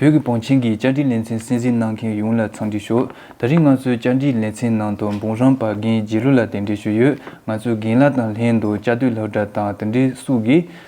བོད་ཀྱི་བང་ཆེན་གྱི་བཅར་འདྲི་ལེ་ཚན་གསན་གཟིགས་གནང་མཁན་ཡོངས་ལ་འཚམས་འདྲི་ཞུ། ད་རིང་ང་ཚོའི་བཅར་འདྲིའི་ལེ་ཚན་ནང་དུ་འབུམ་རམས་པ་རྒན་རྗེ་ལོ་ལ་དེ་འདྲི་ཞུ་ཡོད། ང་ཚོའི་རྒན་ལགས་དང་ལྷན་དུ་བཅའ་སྡོད་ལྷག་སྒྲ་དང་དེ་འདྲའི་སུག་གིས་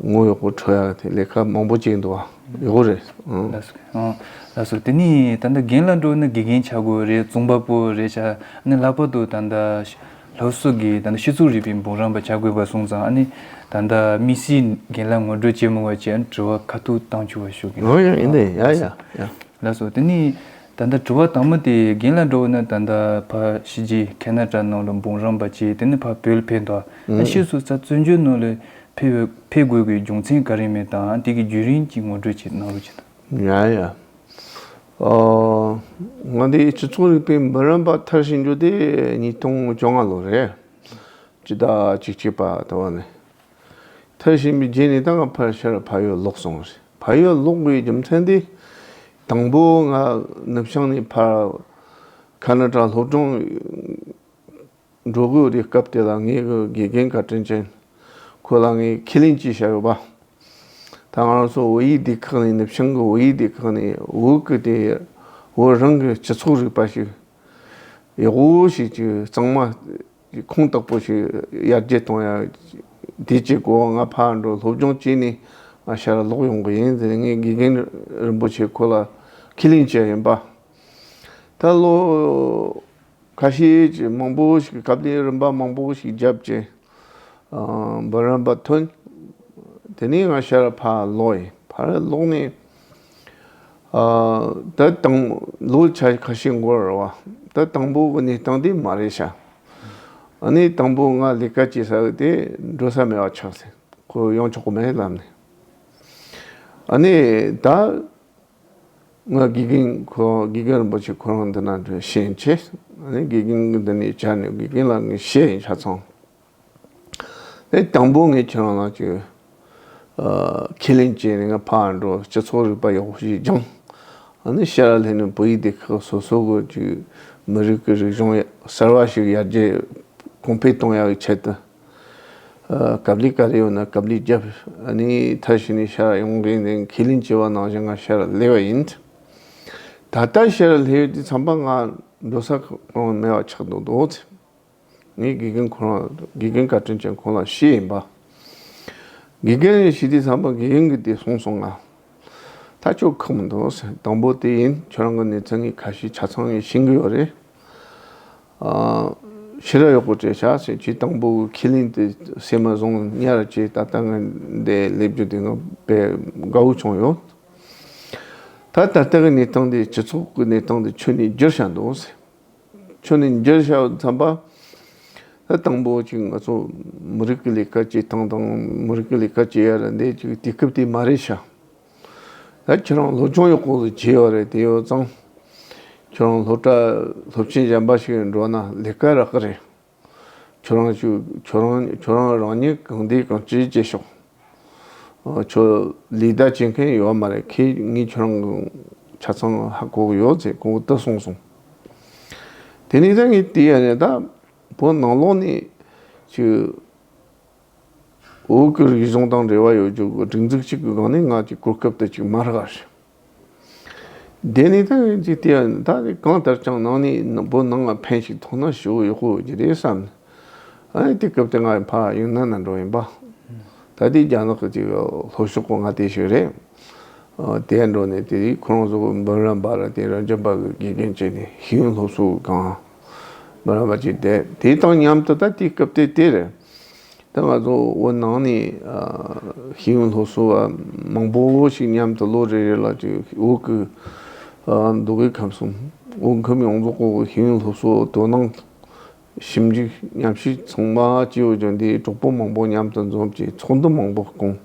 ངོ་ཡོག་པོ་འཕྲོ་ཡག་ལས་ཀ་མང་པོ་བྱེད་འདུག་ཡོག་པོ་རེད། ལགས་སོ་དེ་ནི་ད་ལྟ་རྒན་ལ་འགྲོ་ན་དགེ་རྒན་བྱ་དགོས་རེད་རྫོང་པ་པོ་རེད་བྱ་ནི་ལྷག་པར་དུ་ད་ལྟ་ལྷོ་སོག་གི་ད་ལྟ་ཤི་ཚུགས་རིག་པའི་འབུམ་རམས་པ་བྱ་དགོས་པ་སོང་ཙང་ཨ་ནི་ད་ལྟ་དམིགས་བསལ་རྒན་ལ་ངོ་སྤྲོད་བྱེད་མི་དགོས་བྱ་དྲི་བ་ཁ་ཐུག་བཏང་ཆུ་བ་ཞུ་གི་འདུག་ལགས་སོ་དེ་ནི་ད་ལྟ་དྲི་བ་དང་མོ་དེ་རྒན་ལ་འགྲོ་ན་ད་ལྟ་ཕ་ཤི་རྗེས་ཁེ་ན་ཏྲ་ནང་ལ་འབུམ་རམས་པ་བྱས་དེ་ནི་ཕ་བོད་ལ་ཕེབས་འདུག་ཨ་ཤི་སུ་ཚ་བཙོན་འཇུག་ནང་ལ། འཕེལ་དགོས་ཀྱི་རྒྱུ་མཚན་ག་རེ་མེད་དམ་དེ་གི་རྒྱུད་རིང་གི་ངོ་སྤྲོད་ཅིག་གནང་རོགས་ཅི་དང། ཡ་ཡ། ང་འདི་སྤྱི་ཚོགས་རིག་པའི་མི་རན་པ་ཐར་ཞིག་འགྱུར་ཏེ་ཉིས་སྟོང་བཅོ་ལྔ་ལོ་རེད། སྤྱི་ཟླ་གཅིག་བྱས་པ་ད་བར་ནས་ཐར་བཞིན་པའི་རྗེས་ནས་ད་སྔ་ཕར་ཆེར་ཕ་ཡུལ་ལོག་སོང་རེད་ཕ་ཡུལ་ལོག་པའི་རྒྱུ་མཚན་དེ་དང་པོ་ང་ནུབ་བྱང་ནས་ཕར་ཁ་ན་གྲ་སློབ་སྦྱོང་འགྲོ་དགོས་རིགས་སྐབས་དེ་ལ་ངའི་དགེ་རྒན་བཀའ་དྲིན་ཅན་ཁོ་ལ་ངས་ཁས་ལེན་གྱིས་བྱ་ཡོད་པ། ད་ང་རང་ཚོ་བོད་ཡིག་སྡེ་ཁག་ནས་ནུབ་བྱང་གི་བོད་ཡིག་སྡེ་ཁག་ནས་བོད་སྐད་དེ་བོད་རང་གི་སྤྱི་ཚོགས་རིག་པ་ཞིག་ཡག་པོ་ཞིག་གི་གཙང་མ་གི་ཁུངས་དག་པོ་ཞིག་ཡར་རྒྱས་གཏོང་ཡ་དེ་བྱེད་དགོས་བ་ང་ཕར་འགྲོ་སློབ་སྦྱོང་བྱས་ནས་ང་ཤར་ལ་ལོག་ཡོང་གི་ཡིན་ཟེར་ངའི་དགེ་རྒན་རིན་པོ་ཆེ་ཁོ་ལ་ཁས་ལེན་བྱས་ཡིན་པ། ད་ལོ། ཁ་ཤས་ཀྱིས་མང་པོ་ཞིག་གབ་ལེན་རིམ་པ་མང་པོ་ཞིག་བརྒྱབ་རྐྱེན་འབུམ་རམས་པ་ཐོན། དེ་ནས་ང་ཤར་ཕ་ལོག་ཡིན་ཕར་ལོག་ནས་ད་དང་ལོ་ཆ་ཁ་ཤས་འགོར་བ་ད་དང་པོ་གི་གནས་སྟངས་དེ་མ་རེད་ཤག་གནས་དང་པོ་ང་ལས་ཀ་བྱེད་ས་དེ་འགྲོ་ས་མེད་བ་ཆགས་སྲིད་ཁོ་ཡོང་ཆོག་གི་མེད་ལབ་ནས་ཨ་ནས་ད། ང་དགེ་རྒན་ཁོ་དགེ་རྒན་རིན་པོ་ཆེ་ཁོ་རང་འདི་ན་འགྲོའི་ཤེས་ཡིན་ཆེ། དགེ་རྒན་གི་འདི་ནས་བྱས་ནས་དགེ་རྒན་ལ་ངས་ཤེས་ཡིན་ཆ་ཚང། དེ་དང་པོ་ངས་ཁྱེད་རང་ལ་ཅིག་ཁས་ལེན་བྱས་ནས་ང་ཕར་འགྲོ་སྤྱི་ཚོགས་རིག་པ་ཡག་པོ་ཞིག་སྦྱང། ཤེས་ར་ལྷན་ནས་བོད་ཡིག་སྡེ་ཁག་སོ་སོ་གི་ཅིག་མི་རིགས་ཀྱི་རིག་གཞུང་གསར་བ་ཞིག་ཡར་རྒྱས་གོང་འཕེལ་གཏོང་ཡག་གི་ཆེད་དུ། ཀབ་ལི་ཀ་རེ་ཡོད་ན་ཀབ་ལི་རྒྱབ་ནི་མཐར་ཕྱིན་ནས་ཤར་ཡོང་རེ་ནས་ཁས་ལེན་བྱས་པ་ནང་བཞིན་ང་ཤར་སླེ་བ་ཡིན། ད་ལྟ་ཤར་སླེ་ཡོད་དུས་མཚམས་པ་ང་འགྲོ་ས་གང་མེད་པ་ཆགས་འདུག་འདུག་ཚེ། ངའི་དགེ་རྒན་ཁོ་རང་དགེ་རྒན་ཀ་དྲིན་ཅན་ཁོང་ལ་ཤེས་ཡིན་པ། དགེ་རྒན་རེ་ཤི་དུས་མཚམས་པ་དགེ་རྒན་གྱི་དེ་གསུངས་སོང་ང་ད་ཅོ་ཁག་མི་འདུག་དང་པོ་དེ་ཡིན་ཁྱོད་རང་གི་ནུས་ཚད་ངས་ཁ་ཞེ་ཆ་ཚང་ངས་ཤེས་གི་ཡོད་རེད། ཕྱི་རོལ་གཡོག་པོ་བཅས་བྱ་བྱེད་སྤྱི་དང་པོ་གི་ཁས་ལེན་དེ་བསྲེས་མ་བཟུང་བསྙལ་ར་བཅས་ད་ལྟ་ངས་འདས་སླེབས་རྒྱུ་དེ་ནི་དཔེ་དགའ་བོ་བྱུང་ཡོད། ད་ད་ལྟ་གི་གནས་སྟངས་འདི་སྤྱི་ཚོགས་ཀྱི་གནས་སྟངས་འདི་ཁྱོད་ནས་བསྒྱུར་བྱ་འདུག་ཟེར། ཁྱོད་ནས་བསྒྱུར་བྱ་བསམ་པ། ད་དང་པོ་གཅིག་ང་ཚོ་མི་རིགས་ཀྱི་ལས་ཀ་བྱེད་སྟངས་དང་མི་རིགས་ཀྱི་ལས་ཀ་བྱེད་ཡ་རེད་འདས་ཀྱི་དུས་སྐབས་དེ་མ་རེད་ཤག། ཁྱོད་རང་སློབ་སྦྱོང་ཡག་པོ་བྱས་ཡོད་རེད་བལྟས་ཡོད་ཙང། ཁྱོད་རང་སློབ་གྲྭ་སློབ་ཆེན་གཞན་པ་ཞིག་འགྲོ་ན་ལས་ཀ་རག་གི་རེད། ཁྱོད་རང་ཁྱོད་རང་རང་ཉིད་གང་བདེ་གང་སྐྱིད་སྐྱེས་ཤོག། ཁྱོད་ལས་ཀ་བྱེད་མཁན་ཡོད་མ་རེད་ཁྱེད་ངས་ཁྱོད་རང་གི་ཆ་ཚང་ཧ་གོ་གི་ཡོད་ཅེས་གོང་དུ་གསུངས་སོང། དེ་ནས་ད་ངས་བལྟས་ཡོད་ནས་ད་བོད་ནང་ལོགས་ནས་ཀྱི། བོད་ཀྱི་རིག་གཞུང་དང་འབྲེལ་བ་ཡོད་རྒྱུ་གི་སྒྲིག་འཛུགས་གཅིག་གི་སྒང་ནས་ང་ཅིག་གོ་སྐབས་དེ་ཅིག་མ་རག་ཞིག། དེ་ནས་ད་ངས་ཅིག་བལྟས་ན་ད་རེས་གང་ལྟར་ཅང་ནང་ནས་བོད་ནང་ལ་ཕན་ཞིག་ཐོགས་ན་ཞུ་ཡག་པོ་ཡོད་ཀྱི་རེད་བསམ་ནས། ཨ་ཡེ་དེ་སྐབས་དེ་ང་ཡི་ཕ་ཡུལ་ན་ན་འགྲོ་ཡིན་པ། ད་ལྟའི་རྒྱ་ནག་གི་ཅིག་ལྷོ་ཕྱོགས་སྐོར་ང་དེ་ཞིག་རེད། དེར་འགྲོ་ནས་དེ་རིང་ཁོ་རང་ཚོ་གི་འབུམ་རམས་པ་ར་དེ་ར་འཇམ་པ་གི་དགེ་རྒན་བྱས་ནས་ཞིང་སློབ་གསོ་གི་སྒང། མི་རངས་པ་ཅིག་སྟེ་དེ་དང་མཉམ་དུ་ད་ལྟའི་སྐབས་དེ་དེར་ད་ང་ཚོ་བོད་ནང་ནས་ཤེས་ཡོན་སློབ་གསོ་བ་མང་པོ་ཞིག་མཉམ་དུ་ལོ་རེ་རེ་ལ་འོག་གི་འདུ་འགོད་ཁམས་སུ་འོས་འཁུམས་ཡོངས་རྫོགས་སྐོར་གྱི་ཤེས་ཡོན་སློབ་གསོ་དོ་སྣང་ཞིབ་འཇུག་ཉམས་ཞིབ་ཚང་མ་སྤྱི་བོ་ལྗོངས་འདིའི་གྲོགས་པོ་མང་པོ་མཉམ་དུ་འཛོམས་ཀྱིས་ཚོགས་འདུ་མང་པོ་བསྐོངས་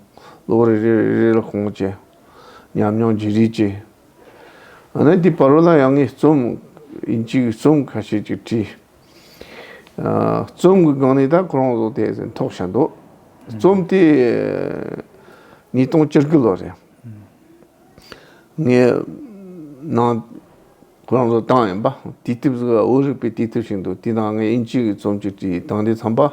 ལོ་རེ་རེ་ལ་བསྐོངས་བྱས་ཉམས་མྱོང་བརྗེ་རེས་བྱས། ཨ་ནེ་འདི་བར་ལ་ཡང་ངས་རྩོམ་གཅིག་རྩོམ་ཁ་ཤས་ཅིག་བྲིས། རྩོམ་གྱི་སྒང་ནས་ད་ཁོ་རང་བཟོ་དེ་ཟེར་འཐོག་བྱས་འདུག་རྩོམ་དེ་ཉིས་སྟོང་བཅུ་དགུ་ལོར་རེད། ངས་ནང་ཁོ་རང་བཟོ་བཏང་ཡིན་པ་དུས་དེབ་ཟེར་བ་བོད་རིག་པའི་དུས་དེབ་ཞིག་འདུག་དེའི་ནང་ངས་དབྱིན་ཇིའི་རྩོམ་གཅིག་བྲིས་དང་དེ་འཚམས་པ།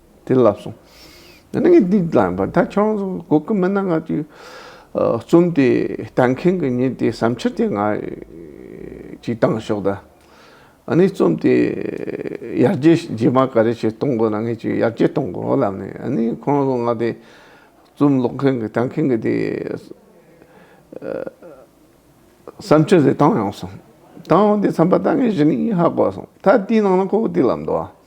དེ་ལབ་སོང། ད་ནི་ངས་འདི་བསླངས་པ་ད་ཆོག་སོང་གོ་སྐབས་མེད་ན་ང་ཚོའི་རྩོམ་དེ་ལྟ་མཁན་གྱི་མྱི་དེ་བསམ་འཆར་དེ་ང་ཅིག་བཏང་ཤོག་ད། ཨ་ནི་རྩོམ་དེ་ཡར་རྒྱས་རྗེས་མ་ག་རེ་ཞིག་གཏོང་དགོས་ན་ངས་ཅིག་ཡར་རྒྱས་གཏོང་དགོས་ལབ་ནས་ཨ་ནི་ཁོང་ཚོ་ང་དེ་རྩོམ་ཀློག་མཁན་གྱི་ལྟ་མཁན་གྱི་དེ་བསམ་འཆར་དེ་བཏང་ཡོང་སོང། བཏང་ཡོང་དེ་བསམ་པ་ད་ངས་གཞི་ནས་ཧ་གོ་སོང་ད་དེའི་ནང་ན་ཁོ་བོ་དེ་ལབ་འདུག་ཨ།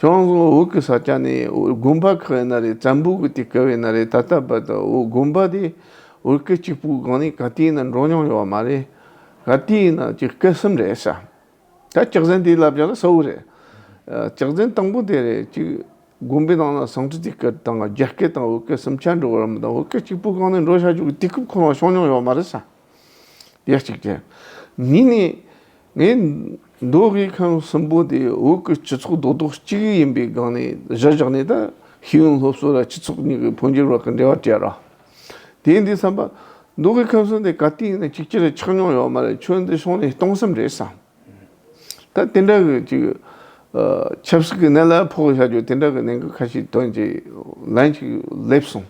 ཁྱོད་ཚོ་འུག་གི་ས་ཆ་ནས་དགོན་པ་ཁག་ཡིན་ན་རེད་བཙན་པོ་གི་དུས་སྐབས་ཡིན་ན་རེད་ད་ལྟ་བར་དུ་དགོན་པ་དེ་འུག་གི་གཅིག་པུའི་སྒང་ནས་ག་དུས་ཡིན་ན་འགྲོ་མྱོང་ཡོད་མ་རེད། ག་དུས་ཡིན་ན་ཅིག་སྐད་གསུམ་རེད་ས། ད་ལྕགས་ཟན་དེའི་ལབ་བྱ་ལ་གསལ་བོ་རེད། ལྕགས་ཟན་དང་པོ་དེ་རེད་ཅིག་དགོན་པའི་ནང་ན་ཟངས་གྲི་དུས་སྐབས་དང་རྒྱ་སྐད་དང་འུག་སྐད་གསུམ་ཆ་འགྲོ་བ་རམ་དང་འུག་གི་གཅིག་པུའི་སྒང་ནས་འགྲོ་བྱ་རྒྱུ་གི་དུས་སྐབས་ཁོ་རང་བྱུང་མྱོང་ཡོད་མ་རེད་ས། ཡེ་གཅིག་ཅན། ཉིད་ནི། ངའི། མདོ་དབུས་ཁམས་གསུམ་པོ་དེ་བོད་ཀྱི་སྤྱི་ཚོགས་རྡོག་རྡོག་གཅིག་ཡིན་པའི་སྒང་ནས་གཞི་བཞག་ནས་ད་ཤེས་ཡོན་སློབ་གསོ་ལ་སྤྱི་ཚོགས་གཉིས་ཀྱི་འཕོ་འགྱུར་བར་གྱི་འབྲེལ་བ་བཅད་རོགས། དེ་འདི་བསམ་པ། མདོ་དབུས་ཁམས་གསུམ་དེ་ག་དུས་ཡིན་ན་གཅིག་གྱུར་གྱི་ཆགས་མྱོང་ཡོད་མ་རེད་ཁྱོད་འདི་ཤོང་ནས་གཏོང་སེམས་རེད་བསམ། ད་དེ་འདྲ་གི་ཅིག། ཆབ་སྲིད་ཀྱི་གནད་ལ་ཕོག་བཞག་རྒྱུ་དེ་འདྲ་གི་གནད་འགག་ཁ་ཤས་དོན་གྱིས་ལན་ཅིག་སླེབས་སོང།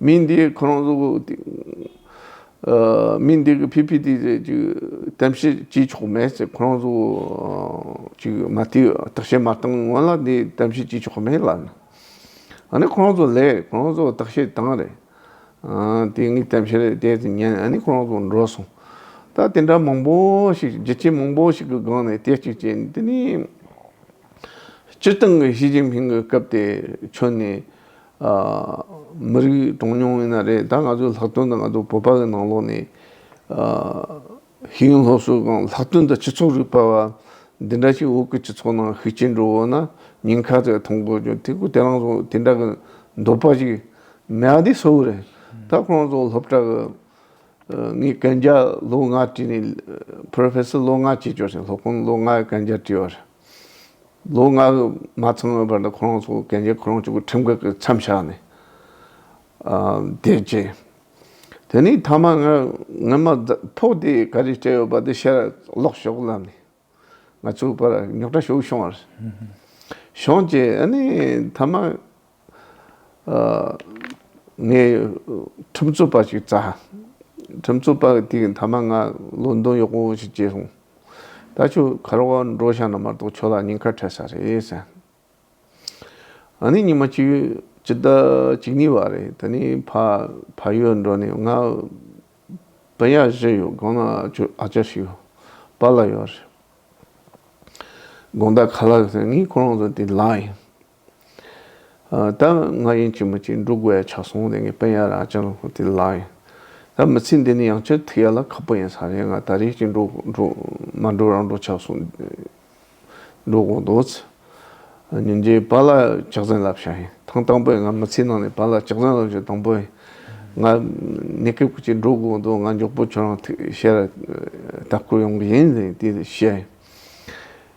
མི་འདི་ཁོ་རང་ཚོ་མི་འདི་གི་བྷི་བྷི་ཏི་ཏི་ཅིག་གཏམ་བཤད་བགྱིད་ཆོག་མེད་ཟེར་ཁོ་རང་ཚོ་ཅིག་མ་དེ་བརྟག་དཔྱད་མ་བཏང་སྔོན་ལ་འདི་གཏམ་བཤད་བགྱིད་ཆོག་མེད་ལབ་ན། འདི་ཁོ་རང་ཚོ་ལས་ཁོ་རང་ཚོ་བརྟག་དཔྱད་བཏང་རེད། དེ་ངས་གཏམ་བཤད་རེད་བལྟས་ཏེ་ཉན་འདི་ཁོ་རང་ཚོ་འགྲོ་སོང། ད་དེ་འདྲ་མང་པོ་ཞིག་རྒྱལ་གཅེས་མང་པོ་ཞིག་གི་སྒང་ནས་བལྟས་བཅུག་ཅེས་འདི་ནི་སྤྱིར་བཏང་གི་ཞི་ཅིན་ཕིང་གི་སྐབས་དེ་ཁྱོན་ནས་མི་རིགས་གྲངས་ཉུང་ཡིན་ན་རེད་ད་ང་ཚོའི་ལྷག་དོན་དུ་ང་ཚོ་བོད་པ་གི་ནང་ལོགས་ནས། ཤེས་ཡོན་སློབ་གསོའི་སྒང་ལྷག་དོན་དུ་སྤྱི་ཚོགས་རིག་པ་བ་འདི་འདྲ་ཞིག་འོག་གི་སྤྱི་ཚོགས་ནང་ཤུགས་ཆེན་འགྲོ་འོང་ན་ཉེན་ཁ་དེ་མཐོང་དགོས་ཀྱི་དེ་ཁོ་དེ་རང་ཚོ་དེ་འདྲ་གི་འདོད་པ་ཞིག་མེད་ཨ་དེ་གསོ་བོ་རེད། ད་ཁོ་རང་ཚོ་སློབ་གྲྭ་གི་ངས་གན་རྒྱ་ལོ་ལྔ་བྲིས་ནས Professor ལོ་ལྔ་བྱེད་ཆོག་ཞིང་སློབ་དཔོན་ལོ་ལྔའི་གན་རྒྱ་བྲིས་བ་རེད། ལོ་ལྔ་མ་ཚང་བའི་བར་དུ་ཁོ་རང་ཚོ་གན་རྒྱའི་ཁོ་རང་ཚོ་གི་ཁྲིམས་འགལ་གྱི་མཚམས་བཞག་ནས་བསྡད་རྗེས། དེ་ནས་ཐ་མ་ངའི་ངའི་མ་ཕོག་དེ་ག་རེ་སྤྲད་ཡོད་པ་དེ་ཤེས་ར་ལོག་ཞོག་ལབ་ནས། ང་ཚོའི་བར་ཉོག་དྲ་ཞུགས་བྱུང་བར། བྱུང་རྗེས་ཨ་ནི་ཐ་མ་ངས་ཁྲིམས་རྩོད་པ་ཞིག་བཙལ། ཁྲིམས་རྩོད་པ་དེ་མཐའ་མ་ང་ལོན་དོན་ཡོག་པོ་ཞིག་བྱས་སོང། ད་ཆོས་གར་བ་འགྲོ་ཤག་ན་མ་གཏོགས་ཁྱོད་ལ་ཉེན་ཁ་འཕྲད་ས་རེད་ཟེར། ཨ་ནི་ཉི་མ་གཅིག་ཅི་ད་གཅིག་གཉིས་བ་རེད་ད་ནི་ཕ་ཕ་ཡུལ་འགྲོ་ནས་ང་བུ་ཡག་བཞི་ཡོད་དགོང་ན་ཁྱོད་ཨ་ཅག་ཞིག་ཡོད་པ་ལ་ཡོད་རེད། དགོངས་དག་ག་ལ་ཡོད་ཟེར་ངས་ཁོ་རང་ཚོ་དེ་ལགས་ཡིན། ད་ང་ཡིན་གྱི་མི་གཅིག་འབྲུག་བས་ཕྱག་སོང་ནས་ངའི་དཔེ་ཡག་ར་ཅང་དེ་ལགས་ཡིན། ད་མི་ཚེ་འདི་ནི་ཡང་བསྐྱར་ཐུག་ཡག་ལ་ཁག་པོ་ཡིན་ས་རེད་ང་ད་རེས་ཀྱི་འབྲུག་འབྲུག་མ་འབྲུག་རང་འབྲུག་ཕྱག་སོང་འབྲུག་འོང་འདུག་ཚེ་ཉིན་རྗེ་བ་ལ་ཕྱག་མཚན་ལབ་ཤག་ཡིན་ཐང་དང་པོས་ང་མི་ཚེ་ནང་ནས་བ་ལ་ཕྱག་མཚན་ལབ་རྒྱུ་དང་པོ་ཡིན་ང་ནི་ཁག་པོ་གཅིག་འབྲུག་འོང་འདུག་ང་མགྱོགས་པོ་ཁྱོད་རང་ཐུག་ཤེས་ར་ལྟ་སྐོར་ཡོང་གི་ཡིན་དེ་བཤད་ཡིན།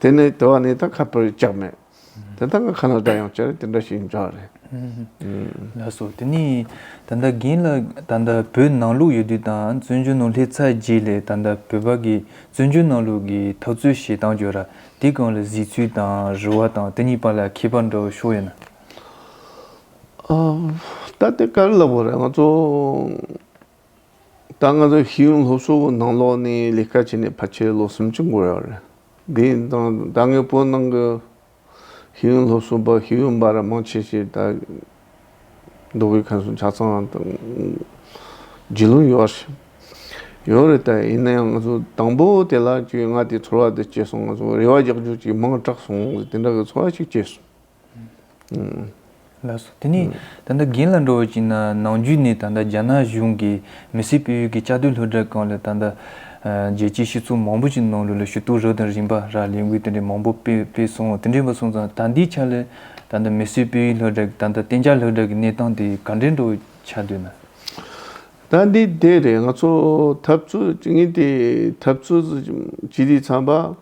དེ་ནས་དེ་བ་ནས་ད་ཁ་བོད་ཅག་མེད། དེ་ད་ང་ཁ་ན་དགྲ་ཡང་བྱེད་དེ་འདྲ་ཞིག་འཇོག་རེད། ལ་སོགས་དེ་ནས་ད་ལྟ་རྒན་ལ་ད་ལྟ་བོད་ནང་ལུགས་ཡོད་དུས་དང་བཙོན་འཇུག་ནང་སླེབས་ཚར་རྗེས་ལས་ད་ལྟ་བོད་པ་གི་བཙོན་འཇུག་ནང་ལུགས་ཀྱི་འཐབ་རྩོད་བྱེད་སྟངས་ཀྱི་ར་དེ་གང་ལ་གཟིགས་ཚུལ་དང་རུལ་བ་དང་དེ་གཉིས་བར་ལ་ཁྱད་པར་འདྲ་བོ་ཤོར་ཡོད་ན། ད་དེ་ག་རེ་ལབ་དགོས་རེད་ང་ཚོ། ད་ང་ཚོ་ཤེས་ཡོན་སློབ་གསོ་པོ་ནང་ལོགས་ནས་ལས་ཀ་བྱས་ནས་ཕལ་ཆེར་ལོ་སུམ་ཅུ་འགོར་ཡོད་རེད། དེ་ཡིན་དང་ད་སྔའི་བོད་ནང་གི་ཤེས་ཡོན་སློབ་གསོ་པ་ཤེས་ཡོན་འབའ་ར་མང་ཆེ་ཤས་ད་འགྲོ་བའི་ཁམས་སུ་ཆ་ཚང་རྗེས་ལུས་ཡོད་རེད། ཡོད་རེད་ད་ཡིན་ན་ཡང་ང་ཚོ་དང་པོ་དེ་ལ་ཁྱོས་ང་དེ་ཚོར་བ་དེ་སྐྱེས་སོང་ང་ཚོ་རེ་བ་རྒྱག་རྒྱུ་གཅིག་མང་དྲགས་སོང་དེ་འདྲ་གི་ཚོར་བ་ཞིག་སྐྱེས་སོང། ལགས་སོ། དེ་ནས་ད་ལྟ་རྒན་ལ་འགྲོ་བ་ཅིག་ན་ནང་རྒྱུད་ནས་ད་ལྟ་རྒྱ་ནག་གཞུང་གིས་མི་སེར་སྤེལ་ཡུལ་གྱི་བཅའ་སྡོད་ལྷོ་བྲག་ཁང་ལ་ད་ལྟ། རྒྱལ་སྤྱིའི་སྤྱི་ཚོགས་མང་པོ་ཞིག་ནང་ལོ་ལོ་ཞུ་གཏུག་རག་དང་རིམ་པ་རག་ལས་འགུལ་དེ་འདྲའི་མང་པོ་སྤེལ་སོང་དེ་འདྲའི་བ་སོང་ཙང་ད་འདིའི་ཆ་ལ་ད་ལྟ་མི་སེར་སྤེལ་ཡུལ་ལྷོ་བྲག་ད་ལྟ་བསྟན་འཇགས་ལྷོ་བྲག་གི་གནས་སྟངས་དེ་ག་འདྲའི་འགྲོ་ཆ་སྡོད་ན། ད་འདི་དེ་རེད་ང་ཚོ་འཐབ་རྩོད་ཅིག་ཡིན་དེ་འཐབ་རྩོད་ཅི་རིགས་ཚང་པ།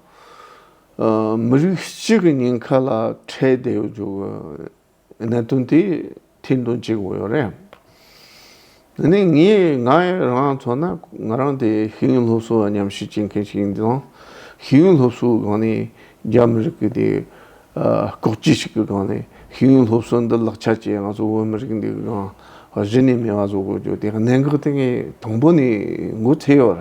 མི་རིགས་གཅིག་གི་ཉེན་ཁ་ལ་འཕྲད་བསྡད་ཡོད་འཇུག་གནད་དོན་དེ་ཐེར་འདོན་བྱེད་དགོས་ཡོད་རེད། འདི་ནི་ངས་ང་རང་མཚོན་ན་ང་རང་དེ་ཤེས་ཡོན་སློབ་གསོ་ཉམས་ཞིབ་བྱེད་མཁན་ཞིག་ཡིན་ཙང་ཤེས་ཡོན་སློབ་གསོའི་སྒང་ནས་རྒྱ་མི་རིགས་ཀྱི་དེ་ལྐོག་ཇུས་ཤིག་གི་སྒང་ནས་ཤེས་ཡོན་སློབ་གསོ་འདི་ལག་ཆ་བྱས་ང་ཚོ་བོད་མི་རིགས་འདི་གང་གཞི་ནས་མེད་པ་བཟོ་དགོས་རྒྱུ་དེ་གནད་འགག་དེ་ངས་དང་པོ་ནས་མགོ་ཚོས་ཡོད།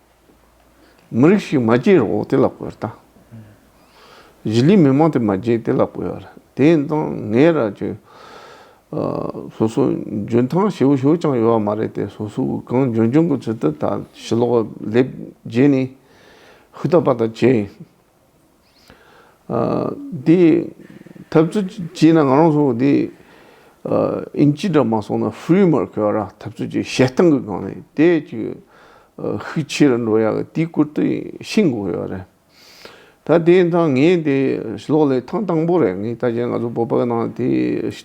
མི་རིགས་ཤིག་མ་སྐྱེས་རོགས་དེ་ལ་བསྐོས་ད། གཞིས་ལུས་མི་མང་དེ་མ་སྐྱེས་དེ་ལ་བསྐོས་ཡོད་རེད་དེ་ཡིན་ཙང་ངའི་ར་ཅོ་སོ་སོ་འཇོན་ཐང་ཞེ་བོ་ཞིག་ཀྱང་ཡོད་པ་མ་རེད་དེ་སོ་སོ་གང་འཇོན་འཇོན་གྱི་ཚུལ་དུ་ད་ཞི་ལོག་ལེབ་རྗེས་ནས་ཧུད་ད་པ་ད་བྱས། དེ་ཐབས་ཚུལ་བྱས་ན་ང་རང་ཚོ་དེ་ཨིན་ཇི་འདྲ་མ་སོང་ན་ཧྥུའི་མར་ཁེ་བ་ར་ཐབས་ཚུལ་བྱས་བཤད་སྟངས་གི་སྒང་ནས་དེ་ཅིག་ཤུགས་ཆེ་རུ་འགྲོ་ཡག་གི་དེ་སྐོར་དུ་ཤེས་དགོས་ཡོད་རེད། ད་དེ་ད་ངས་དེ་ལོག་ལས་ཐང་དང་པོ་རེད་ངས་ད་ཆ་ང་ཚོ་བོད་པ་ནང་དེ་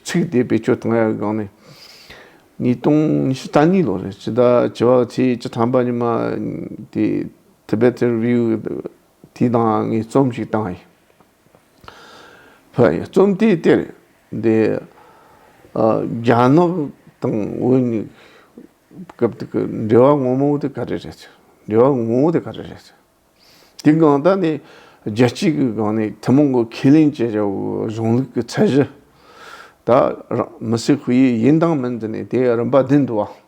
ཚིག་དེ་བེད་སྤྱོད་གཏང་ཡག་གི་སྒང་ནས་ཉིས་སྟོང་ཉི་ཤུ་རྩ་གཉིས་ལོ་རེད་སྤྱི་ཟླ་བྱི་བ་ཚེས་བཅུ་ཐམ་པ་ཉི་མ་དེ Tibetan Review དེ་དང་ངས་རྩོམ་ཞིག་བཏང་ཡིན། རྩོམ་དེའི་དེར་འདི་རྒྱ་ནག་དང་དབུས་གཉིས་སྐབས་དེ་གི་འབྲེལ་བ་ངོ་མ་བོ་དེ་ག་རེ་རེད། འབྲེལ་བ་ངོ་བོ་དེ་ག་རེ་རེད། དེ་གང་ལྟར་ནི་རྒྱལ་སྤྱི་གི་སྒང་ནས་ཐུན་མོང་གི་ཁས་ལེན་བྱེད་བྱ་བའི་གཞུང་ལུགས་ཀྱི་ཚད་གཞི། ད་མི་སེར་ཧུའེ་ཡིན་དང་མིན་དེ་ནི་དེའི་རིམ་པ་བདུན་དུ་བ།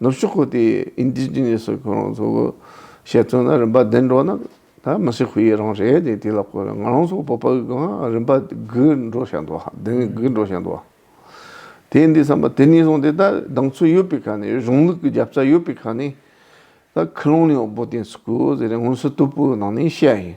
ནུབ་ཕྱོགས་ཁུལ་དེའི Indigenous སོགས་ཁོ་རང་ཚོ་བཤད་ཚུལ་ན་རིམ་པ་བདུན་འགྲོ་ན་ད་མི་སེར་ཁུལ་ཡི་རང་རེད་དེ་ལ་བསྐོས་ན་ང་རང་ཚོ་བོད་པ་གང་རིམ་པ་དགུས་འགྲོ་བཞག་འདུག་ཧ་བདུན་དགུས་འགྲོ་བཞག་འདུག་དེ་འདི་བསམ་པ་དེ་ནས་བཟུང་སྟེ་ད་གདེང་ཚོད་ཡོད་པའི་ཁ་ནས་གཞུང་ལུགས་ཀྱི་རྒྱབ་རྩ་ཡོད་པའི་ཁ་ནས་ད་ཁུ་ལུང་ནས་འོག་པོ་བསྟེན་སུ་དགོས་ཟེར་ནས་སྔོན་བསུ་སྟུག་པོའི་ནང་ནས་བཤད་ཡིན།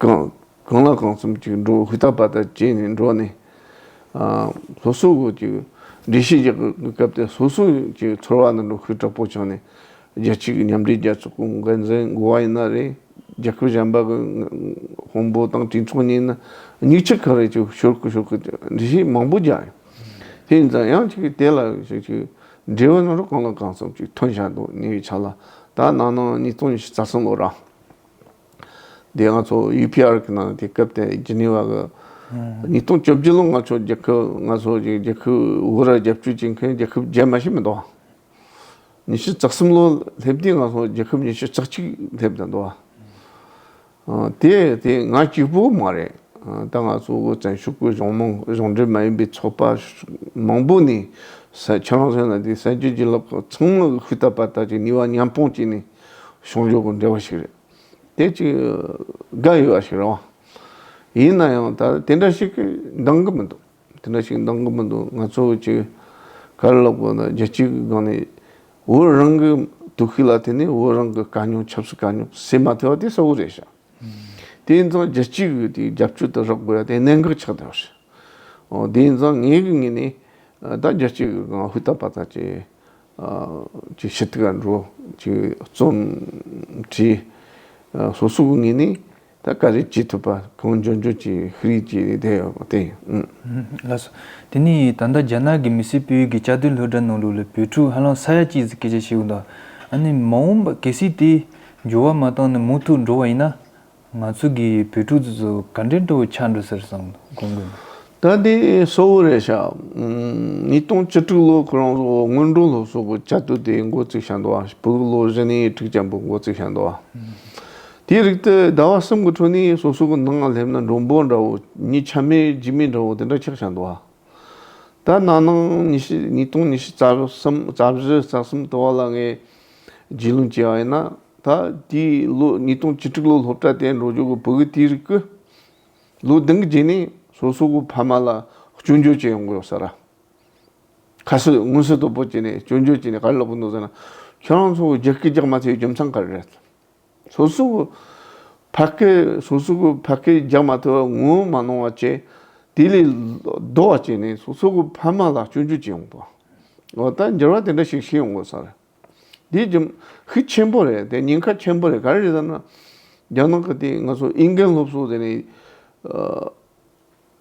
གང་ལ་གང་འཚམ་ཅིག་འགྲོ་ཧུ་ཐ་བ་ད་བྱས་ནས་འགྲོ་ནས། སོ་སོ་གོ་ཅིག་འདྲེ་ཤི་རྒྱག་གི་སྐབས་དེ་སོ་སོ་ཅིག་ཚོར་བ་ནི་འགྲོ་ཁུལ་དྲག་པོ་བྱུང་ནས། རྒྱལ་སྤྱི་གི་མཉམ་འབྲེལ་རྒྱལ་ཚོགས་ཀྱི་འགན་འཛིན་མགོ་བ་ཡིན་ན་རེད། རྒྱལ་ཁབ་གཞན་པ་གི་དཔོན་པོ་དང་གྲོས་ཚོགས་གཉིས་ནི་མྱིག་ཆུ་གང་རེད་ཅིག་ཤོར་གི་ཤོར་གི་འདྲེ་ཤི་མང་པོ་རྒྱག་ཡོད། དེ་ཡིན་ཙང་ཡང་ཅིག་དེ་ལ་ཞིག་ཅིག་འབྲེལ་བའི་ནང་རུ་གང་ལ་གང་འཚམ་ཅིག་ཐོན་བཞག་འདུག་ཉེ་བའི་ཆ་ལ་ད་ནང་ནང་ཉིས་སྟོང་ཉི་ཤུ་རྩ་གསུམ་ལོ་ར། དེ་ང་ཚོ་ཡུ་པི་ཨར་གྱི་ནང་དེ་སྐབས་དེ་ཇི་ནི་ཝ་གི་ཉིས་སྟོང་བཅོ་བརྒྱད་ལོ་ང་ཚོ་རྒྱལ་ཁབ་ང་ཚོ་རྒྱལ་རྒྱལ་ཁབ་དབུ་ར་རྒྱབ་སྐྱོར་བྱེད་མཁན་རྒྱལ་ཁབ་རྗེས་མ་ཞིག་མི་འདུག་བ། ཉི་ཤུ་རྩ་གསུམ་ལོ་སླེབས་དུས་ང་ཚོ་རྒྱལ་ཁབ་ཉི་ཤུ་རྩ་གཅིག་སླེབས་ད་འདུག་བ། དེ་དེ་ང་གཅིག་པུ་མ་རེད། ད་ང་ཚོ་བོད་བཙན་ཤུག་པོའི་གཞུང་མང་གཞུང་འབྲེལ་མ་ཡིན་པའི་ཚོགས་པ་མང་པོ་ནས་ས་ཁྱོད་རང་ཚོ་ན་དེ་ས་བཅུ་བཞི་ལོག་ཚང་མ་ཤུལ་དག་པ་དག་ཅིག་ནི་ཝ་མཉམ་སྤུངས་བྱས་ནས། གཞུང་ལུགས་དང་འབྲེལ་བ་ཞིག་རེད། དེ་ཅིག་དགའ་ཡོད་པ་ཞིག་རེད། ཡིན་ན་ཡང་ད་དེ་འདྲ་ཞིག་འདང་གི་མི་འདུག་དེ་འདྲ་ཞིག་འདང་གི་མི་འདུག་ང་ཚོ་ཅིག་ག་རེ་ལབ་དགོས་ན་རྒྱལ་སྤྱིའི་སྒང་ནས་བོད་རང་གི་དུག་ཤི་ལ་དེ་ནས་བོད་རང་གི་དཀའ་རྙོག་ཆབ་སྲིད་དཀའ་རྙོག་སེལ་མ་ཐུབ་པ་དེ་གསལ་བོ་རེད་ཤག་དེ་ཡིན་ཙང་རྒྱལ་སྤྱིའི་གི་དེ་རྒྱབ་སྐྱོར་དེ་རག་དགོས་ཡ་དེ་གནད་འགག་ཆགས་བསྡད་པ་རེད། འོ་དེ་ཡིན་ཙང་ངའི་གི་ངོས་ནས་ད་རྒྱལ་སྤྱིའི་གི་སྒང་ཧུད་ཏག་པ་ཏག་ཅིག་ཅིག་ཤེས་དགའ་འགྲོ་ཅིག་རྩོམ་བྲིས། སོ་སོ་ངེས་ནས་ད་ག་རེ་བྱེད་ཐུབ་པ་གང་འཇོན་འཇོན་ཅིག་ཧི་རིག་ཅིག་བསྡད་ཡོད་པ་དེ་ཡིན། དེ་ནས་ད་ལྟ་རྒྱ་ནག་གི་མི་སེར་སྤེལ་ཡུལ་གྱི་བཅའ་སྡོད་ལྷོད་གྲྭ་ནང་ལུགས་ལ་བོད་ཕྲུག་ཧ་ལམ་ས་ཡ་གཅིག་གིས་སྐད་ཆ་བཤད་དགོས་དང། ཨ་ནི་མ་འོངས་པ་གལ་སྲིད་དེ་འགྱུར་བ་མ་བཏང་ནས་མུ་མཐུད་འགྲོ་བ་ཡིན་ན། ང་ཚོ་གིས་བོད་ཕྲུག་ཚོ་ཚོ་ག་འདྲའི་འགྲོ་བོ་ཆགས་འགྲོ་ཟེར་སོང་དགོངས་དགོས་མེད། ད་ལྟའི་སོ་བོ་རེད་ཤག་ཉིས་སྟོང་བཅུ་དྲུག་ལོ་ཁོ་རང་ཚོ་སྔོན་འགྲོ་ལོ་སོ་བོ་བཅའ་སྡོད་དེ་མགོ་བཙུགས་ཤག་འདུག་ཨ་བུ་ལོ་བཞི་ནས་ཁྲི་བརྒྱ་འབུད་མགོ་བཙུགས་ཤག་འདུག་དེའི་རིགས་དེ་ཟླ་བ་གསུམ་གི་ཁྲོད་ནས་སོ་སོ་གི་ནང་སླེབས་ན་འགྲོ་འབོར་འདྲ་བོ་ཉིས་ཆ་མེད་བརྒྱུད་མེད་འདྲ་བོ་དེ་འདྲ་ཆགས་ཤག་འདུག་ད་ནང་ནང་ཉི་ཤུ་ཉིས་སྟོང་ཉི་ཤུ་རྩ་གསུམ་རྩ་བཞི་རྩ་གསུམ་དུ་བ་ལ་ངས་རྒྱུས་ལོན་བྱས་པ་ཡིན་ན། ད་ལྟའི་ལོ་ཉིས་སྟོང་བཅུ་དྲུག་ལོ་སློབ་གྲྭ་དེ་འགྲོ་རྒྱུག་གི་བོད་གི་དེའི་རིགས་ཀྱི་ལོ་བདུན་གྱི་རྗེས་ནས་སོ་སོ་གི་ཕ་མ་ལ་སྐྱོན་བརྗོད་བྱེད་ཡོང་གི་ཡོད་ས་ར། ཁ་སི་དངུལ་སི་དོ་པོ་བྱས་ནས་སྐྱོན་བརྗོད་བྱས་ནས་ག་རེ་ལབ་གི་འདུག་ཟེར་ན། ཁྱོད་རང་ཚོ་རྒྱག་གི་རྒྱག་མ་ཐུབ་རྒྱུ་མཚན་ག་རེ་རེད། སོ་སོ་གི་ཕ་སྐད་སོ་སོ་གི་ཕ་སྐད་རྒྱག་མ་ཐུབ་བ་ངོ་མ་ནོར་བ་བཅས་དེ་ལས་ལྡོག་བ་བྱས་ནས་སོ་སོ་གི་ཕ་མ་ལ་སྐྱོན་བརྗོད་བྱེད་ཡོང་གི་འདུག་ད་འགྱུར་བ་དེ་འདྲ་ཞིག་ཞིག་ཡོང་གི་ཡོད་ས་རེད། དེ་རྒྱུ་ཤུགས་ཆེན་པོ་རེད་དེ་ཉེན་ཁ་ཆེན་པོ་རེད་ག་རེ་རེད་ཟེར་ན། རྒྱ་ནག་གི་དེ་ང་ཚོ་ཨིན་སྐད་སློབ་གསོ་དེ་ནས།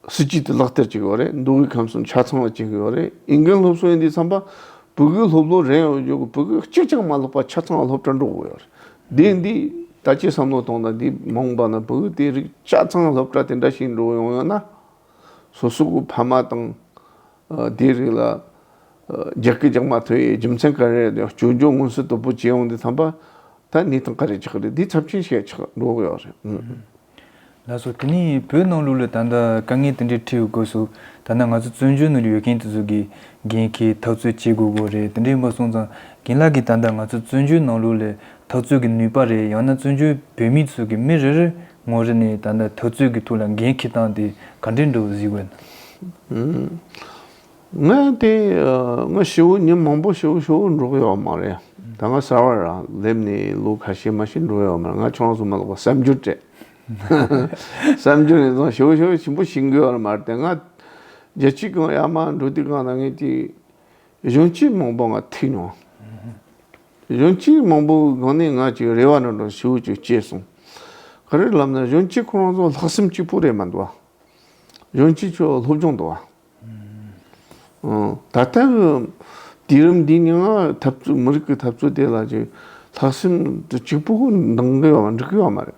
སྲིད་ཇུས་དེ་ལག་བསྟར་བྱེད་དགོས་རེད་འདུག་གི་ཁམས་སུ་ཆ་ཚང་ལ་བྱེད་དགོས་རེད་ཨིན་སྐད་སློབ་གསོ་ཡིན་དུས་བསམ་པ། བོད་སྐད་སློབ་ལོ་རེ་ཡོད་དགོས་བོད་སྐད་གཅིག་ཀྱང་མ་སློབ་པ་ཆ་ཚང་སློབ་གྲྭ་འགྲོ་དགོས་ཡོད་རེད། དེ་འདི་ད་ཅི་བསམ་བློ་གཏོང་དང་འདི་མང་པ་ན་བོད་སྐད་དེ་རིགས་ཆ་ཚང་སློབ་གྲྭ་དེ་འདྲ་ཞིག་འགྲོ་ཡོང་ཡོད་ན། སོ་སོ་གི་ཕ་མ་དང། དེའི་རིགས་ལ། རྒྱག་གི་རྒྱག་མ་ཐོན་ཡའི་རྒྱུ་མཚན་ག་རེ་རེད་བཅོས་སྒྱུར་སྔོན་བསུ་དོད་པོ་བྱེད་ཡོང་དེ་ཐམ་པ་ད་ནི་ཐང་ག་རེ་ཆགས་རེད་དེའི་ཚབས་ཆེན་ཞེ་ཆགས་འགྲོ་གི་ཡོད་རེད། ལགས་སོ་དེ་ནི་བོད་ནང་ལུགས་ལ་ད་ལྟ་དཀའ་ངལ་དེ་འདྲའི་འཁྲིའུ་དགོས་སོ་ད་ནི་ང་ཚོ་བཙོན་འཇུག་ནང་ཡོད་མཁན་དེ་ཚོ་གི་རྒན་ཁའི་ཐག་ཚོད་བྱེད་དགོས་དགོས་རེད་དེ་འདྲའི་མ་གསུངས་ཙང་རྒན་ལགས་གིས་ད་ལྟ་ང་ཚོ་བཙོན་འཇུག་ནང་ལུགས་ལས་ཐག་ཚོད་གི་ནུས་པ་རེད་ཡང་ན་བཙོན་འཇུག་བོད་མི་ཚོ་གི་མི་རེ་རེར་ངོ་རེ་ནས་ད་ལྟ་དུས་ཚོད་ཀྱི་ཐུགས་ལ་འགན་འཁྱེར་སྟངས་དེ་ག་འདྲས་འདུག་གཟིགས་དགོས་ན། ངས་དེ་སྔ་བྱིའུ་ཉིན་མང་པོ་བྱིའུ་བྱིའུ་འབྲོག་ཡོད་མ་རེད། ད་སྔ་གསར་བ་རང་སླེབས་ནས་ལོ་ཁ་ཤས་མ་ཤི་འགྲོ་ཡོད་མ་རེད་ང་ཁྱོད་རང་ཚོ་མ་ལོག་པ་གསར་འགྱུར་སྤྲད། གསར་འགྱུར་ནས་བཟུང་བྱིའུ་བྱིའུ་ཆེན་པོ་ཤི་འགོས་ཡོད་མ་རེད་དེ་སྔ་རྒྱལ་སྤྱིའི་སྒང་ཡར་མར་འགྲོ་དུས་སྒང་ནང་ངས་དེ་གཞུང་སྤྱི་མང་པོ་ང་ཐུག་མྱོང། གཞོན་སྐྱེས་མང་པོས་གང་ནས་ང་ཅིག་རེ་བ་འདྲ་འདྲ་ཞུ་ཅིག་ཅེས་གསུངས། ག་རེ་ལབ་ན་གཞོན་སྐྱེས་ཁོ་རང་ཚོ་ལྷག་སེམས་སྐྱིད་པོ་རེད་མ་འདུག་བ། གཞོན་སྐྱེས་ཁྱོད་སློབ་སྦྱོང་འདུག་བ། ད་ལྟ་གི་དུས་རིམ་འདི་ནི་འཐབ་རྩོད་མི་རིགས་ཀྱི་འཐབ་རྩོད་དེ་ལ་ཅིག་ལྷག་སེམས་སྐྱིད་པོ་འདང་གི་ཡོད་པ་འགྲིག་གི་ཡོད་མ་རེད།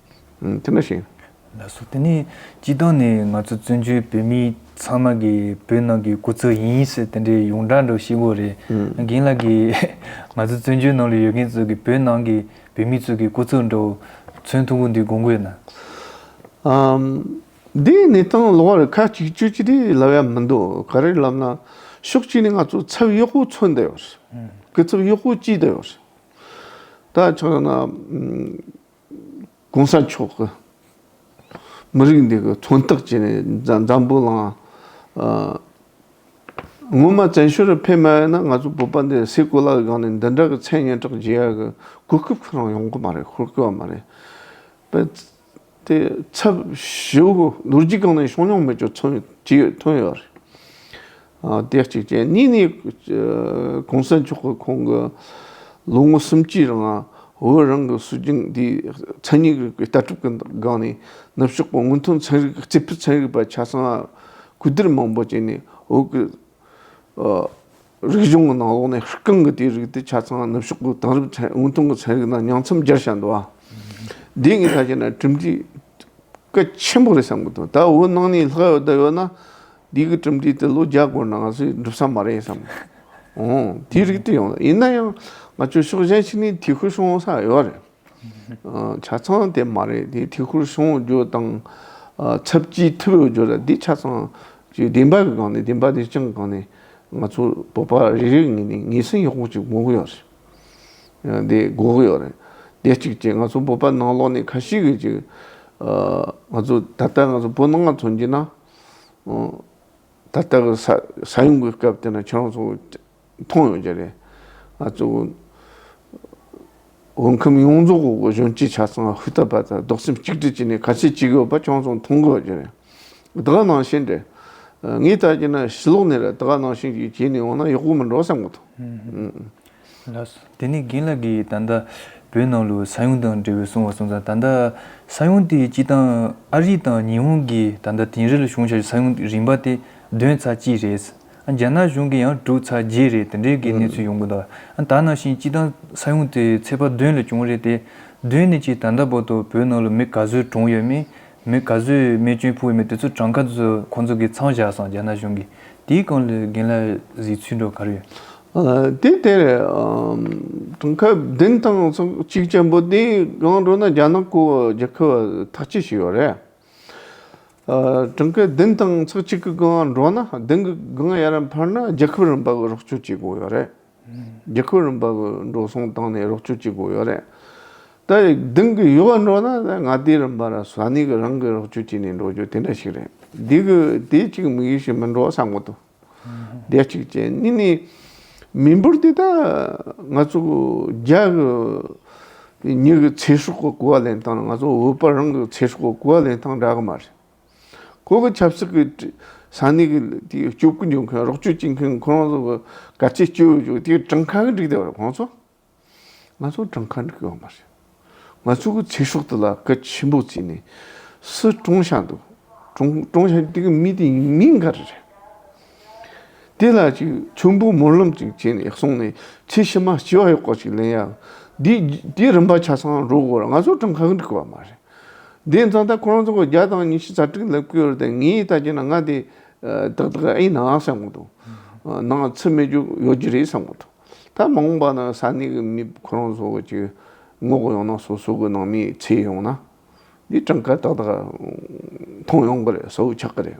དེ་འདྲ་ཞིག། ལགས་སོ་དེ་ནས་སྤྱི་བཏང་ནས་ང་ཚོ་བཙོན་བྱོལ་བོད་མི་ཚང་མ་གི་བོད་ནང་གི་སྐུ་ཚབ་ཡིན་ཟེར་དེ་འདྲའི་ཡོངས་གྲགས་འགྲོ་ཤི་གོ་རེད་རྒན་ལགས་གི་ང་ཚོ་བཙོན་བྱོལ་ནང་ལ་ཡོད་མཁན་ཚོ་གི་བོད་ནང་གི་བོད་མི་ཚོ་གི་སྐུ་ཚབ་འགྲོ་མཚོན་ཐུགས་འཁུར་འདི་དགོངས་དགོས་ན། འདིའི་གནས་སྟངས་ལོག་རེད་ཁ་གཅིག་གཅོད་ཅི་རིགས་ལབ་ཡ་མི་འདུག་ག་རེ་ལབ་ན་ཕྱོགས་གཅིག་ནས་ང་ཚོ་ཚབ་གཡོག་པོ་འཚོལ་འདོད་ཡོད་རེད་སྐུ་ཚབ་གཡོག་པོ་བསྐྱིས་འདོད་ཡོད་རེད་ད་ཆ་ན། གོང་ས་མཆོག་གི་མི་རིགས་འདི་གི་མཚོན་རྟགས་བྱས་ནས་འཛམ་བུ་གླང་ངོ་མ་བཙན་བྱོལ་རུ་ཕེབས་མ་ཡོད་ན་ང་ཚོ་བོད་པ་འདི་སའི་གོ་ལ་གི་སྒང་ནས་འདི་འདྲ་གི་མཚན་སྙན་གྲགས་བརྗེ་ཡ་གི་གོ་སྐབས་ཁོ་རང་ཡོང་གི་མ་རེད་ཤོར་དགོས་བ་མ་རེད། པེ་ཏེ་ཚབ་ཞུ་ལོ་རྒྱུས་གང་ནས་བྱུང་མྱོང་མེད་ཀྱི་མཚོན་བྱེད་ཐོན་ཡོད་རེད། སྟེ་གཅིག་ཅན་གཉིས་ནི་གོང་ས་མཆོག་གི་ཁོང་གི་ལོ་ངོ་སུམ་ཅུའི་རིང་བོད་རང་གི་སྲོལ་རྒྱུན་འདིའི་མཚན་ཉིད་རིག་པའི་ལྟ་གྲུབ་ཀྱི་སྒང་ནས་ནུབ་ཕྱོགས་པ་སྔོན་ཐོན་ཚན་རིག་རྩིས་འཕྲུལ་ཚན་རིག་པ་ཆ་ཚང་ལ་གུས་བསྡུར་མང་པོ་བྱས་ནས་བོད་ཀྱི་རིག་གཞུང་གི་ནང་ལོགས་ནས་ཧྲི་ཀང་གི་དེའི་རིགས་དེ་ཆ་ཚང་ནུབ་ཕྱོགས་པའི་དེང་རབས་སྔོན་ཐོན་གྱི་ཚན་རིག་ནང་མྱང་ཚམ་སྦྱར་བཞག་འདུག་བ། དེ་ངས་ད་བྱས་ན་གྲུབ་འབྲས་སྐད་ཆེན་པོ་རེ་བསམ་གྱི་འདུག་ད་འོ་ནང་ནས་ལྷག་ཡོད་ལྟ་ཡོད་ན། འདི་གི་གྲུབ་འབྲས་དེ་ལོ་བརྒྱ་འགོར་ནའང་སུས་འགྲུབ་ས་མ་རེད་བསམ། འོང། དེ་རིགས་དེ་ཡོང། ཡིན་ན་ཡང་ང་ཚོའི་ཕྱོགས་གཞན་ཞིག་ནས་དེ་ཁུལ་སྲུང་ས་ཡོད་རེད། ཆ་ཚང་དེ་མ་རེད་དེ་དེ་ཁུལ་སྲུང་རྒྱུ་དང། ཚབས་ཆེའི་མཐུ་ཡོད་རྒྱུ་རེད་འདི་ཆ་ཚང་གི་བདེན་པ་གི་སྒང་ནས་བདེན་པ་དེ་སྤྱང་གི་སྒང་ནས་ང་ཚོ་བོད་པ་རིགས་རིགས་ངེས་ནས་ངེས་ཟིན་ཡག་པོ་ཅིག་དགོས་ཀྱི་ཡོད་རེད། ཡང་དེ་འགོག་ཡོད་རེད། དེ་གཅིག་བྱས་ང་ཚོ་བོད་པ་ནང་ལོགས་ནས་ཁ་ཤིག་གིས་ཅིག་ང་ཚོ་ད་ལྟ་ང་ཚོ་བོད་ནང་ང་ཚོ་འགྱིས་ན། ད་ལྟ་གི་ས་ས་ཡོམ་གི་སྐབས་དེ་ན་ཁྱེད་རང་ཚོ་མཐོང་ཡོད་ཀྱི་རེད། ང་ཚོ་བོད་ཁམས་ཡོངས་རྫོགས་གི་གཞོན་སྐྱེས་ཆ་ཚང་ཧུར་ཐག་པར་ཐག་རྡོག་སེམས་གཅིག་སྒྲིལ་བྱས་ནས་ཁ་ཆེ་གཅིག་ཡོད་པ་ཁྱེད་རང་ཚོ་མཐོང་དགོས་ཀྱི་རེད། དེ་ག་ནང་བཞིན་དྲན། ངའི་ལྟ་རྒྱུ་ན་ཞི་ལོག་ནས་རེད་དེ་ག་ནང་བཞིན་གྱིས་བྱས་ནས་འོང་ན་ཡག་པོ་མི་འགྲོ་བསམ་གི་འདུག། ལགས་སོ། དེ་ནས་རྒན་ལགས་ཀྱིས་ད་ལྟ་བོད་ནང་ལོའི་ས་ཡོམ་དང་འབྲེལ་བའི་གསུང་བ་གསུང་ཙང་ད་ལྟ་ས་ཡོམ་དེའི་སྤྱི་སྟངས་ཨ་རི་དང་ཉི་ཧོང་གིས་ད་ལྟ་དིང་རི་ལ་བྱུང་བྱ་རྒྱུ་ས་ཡོམ་རིམ་པ་དེ་བདུན་ཚར་གཅིག་རེད། རྒྱ་ནག་གཞུང་གིས་ཡང་དྲུག་ཚར་བརྒྱད་རེད་དེ་འདྲའི་གི་གནས་ཚུལ་ཡོང་གི་འདུག་ཨ་ད་ནང་བཞིན་སྤྱི་སྟངས་ས་ཡོམ་དེ་ཚེས་པ་བདུན་ལ་བྱུང་རེད་དེ་བདུན་ནས་ཀྱིས་ད་ལྟ་བར་དུ་བོད་ནང་ལོ་མི་ག་ཚོད་གྲོངས་ཡོད་མིན་མི་ག་ཟུ་ཡིས་རྨས་སྐྱོན་ཕོག་མི་དེ་ཚོ་གྲངས་ཀ་ཚོ་ཁོང་ཚོ་གི་ཚང་བཞག་སོང་རྒྱ་ནག་གཞུང་གིས་དེའི་སྐོར་ལ་རྒན་ལ་ཟིག་ཚུལ་འགྲོ་གར་ཡོད། དེའི་ཐད་དེང་སྐབས་བདུན་དང་སོ་གཅིག་ཆེན་པོ་དེའི་སྒང་རོ་ན་རྒྱ་ནག་གོ་རྒྱ་ཁུ་བ་ཐག་ཆད་ཞིག་ཡོད་རེད། དེང་སྐབས་བདུན་དང་སོ་གཅིག་གི་སྒང་རོ་ན་བདུན་གི་སྒང་ཡར་བར་ན་རྒྱ་ཁུ་རིམ་པ་རོགས་སྐྱོར་བྱེད་དགོས་ཡོད་རེད། རྒྱལ་ཁབ་རིམ་པ་གི་འགྲོ་སོང་བཏང་ནས་རོགས་སྐྱོར་བྱེད་དགོས་ཡོད་རེད། ད་རེ་དེང་གི་ཡུ་བ་འགྲོ་ན་ནི་ང་ཏི་རིམ་པ་ར་ས་ནི་གི་རང་གི་རོགས་སྐྱོར་བྱེད་ནས་འགྲོ་རྒྱུ་དེ་འདྲ་ཞིག་རེད། དེ་གི་དེ་གཅིག་དམིགས་ཡུལ་ཞིག་མིན་འགྲོ་ས་མགོ་ཏུ་བསྡད་ཅིག་བྱས་གཉིས་ནི། མི་འབོར་དེ་དག་ང་ཚོ་གི་རྒྱ་གི་ཉི་གི་ཚེ་སྲོག་གི་གོ་བ་ལེན་སྟངས་ལ་ང་ཚོ་བོད་པ་རང་གི་ཚེ་སྲོག་གི་གོ་བ་ལེན་སྟངས་འདྲ་གི་མ་རེད། ཁོང་གིས་ཆབ་སྲིད་ཀྱི་ས་གནས་ཀྱི་དེའི་སྤྱོད་སྒོ་འཇོག་མཁན་རོགས་སྐྱོར་བྱེད་མཁན་ཁོ་རང་ཚོ་གི་གལ་ཆེའི་སྐྱོད་ཡོད་ཅིག་དེ་གྲངས་ཁ་གི་འགྲིག་བསྡད་པ་རེད་ཁོང་ཚོ། ང་ཚོ་གྲངས་ཁ་འགྲིག་ཡོད་མ་རེད། ང་ཚོ་གི་ཚེ་སྲོག་དེ་ལ་གལ་ཆེན་པོ་བརྩིས་ནས་སུ་གྲོངས་བཞག་འདུག་གྲོངས་གྲོངས་བཞག་དེ་གི་མི་དེ་མི་འགའ་རེ་རེད། དེ་ལ་ཅིག་མཆོད་འབུལ་སྨོན་ལམ་ཅིག་བྱས་ནས་སོང་ནས་ཚེ་ཕྱི་མ་སྐྱིད་བ་ཡོད་སྐོར་ཅིག་ལན་ཡག་འདི་འདི་རིམ་པ་ཆ་ཚང་འགྲོ་དགོས་ར་ང་ཚོ་གྲངས་ཁ་གི་འགྲིག་བ་མ་རེད། དེའི་མཚམས་ལྟར་ཁོ་རང་ཚོ་སྒོར་བརྒྱ་དང་ཉི་ཤུ་རྩ་དྲུག་ལ་བསྐུར་ཏེ་ངའི་ལྟ་རྒྱུ་ན་ང་དེ་ཏག་ཏག་ཨེ་ཡིན་ནའང་བསམ་གྱི་འདུག་ནང་ལ་ཚུད་མེད་རྒྱུ་ཡོད་རྒྱུ་རེད་བསམ་གྱི་འདུག་ད་མ་འོངས་པ་ན་ས་གནས་ཀྱི་མི་ཁོ་རང་ཚོ་གཅིག་ངོ་དགོ་ཡང་ན་སོ་སོ་གི་ནང་མིའི་ཚེ་ཡོང་ན། འདི་གྲངས་ཀ་ཏག་ཏག་མཐོང་ཡོང་གི་རེད་བཟོ་ཆགས་ཀྱི་རེད།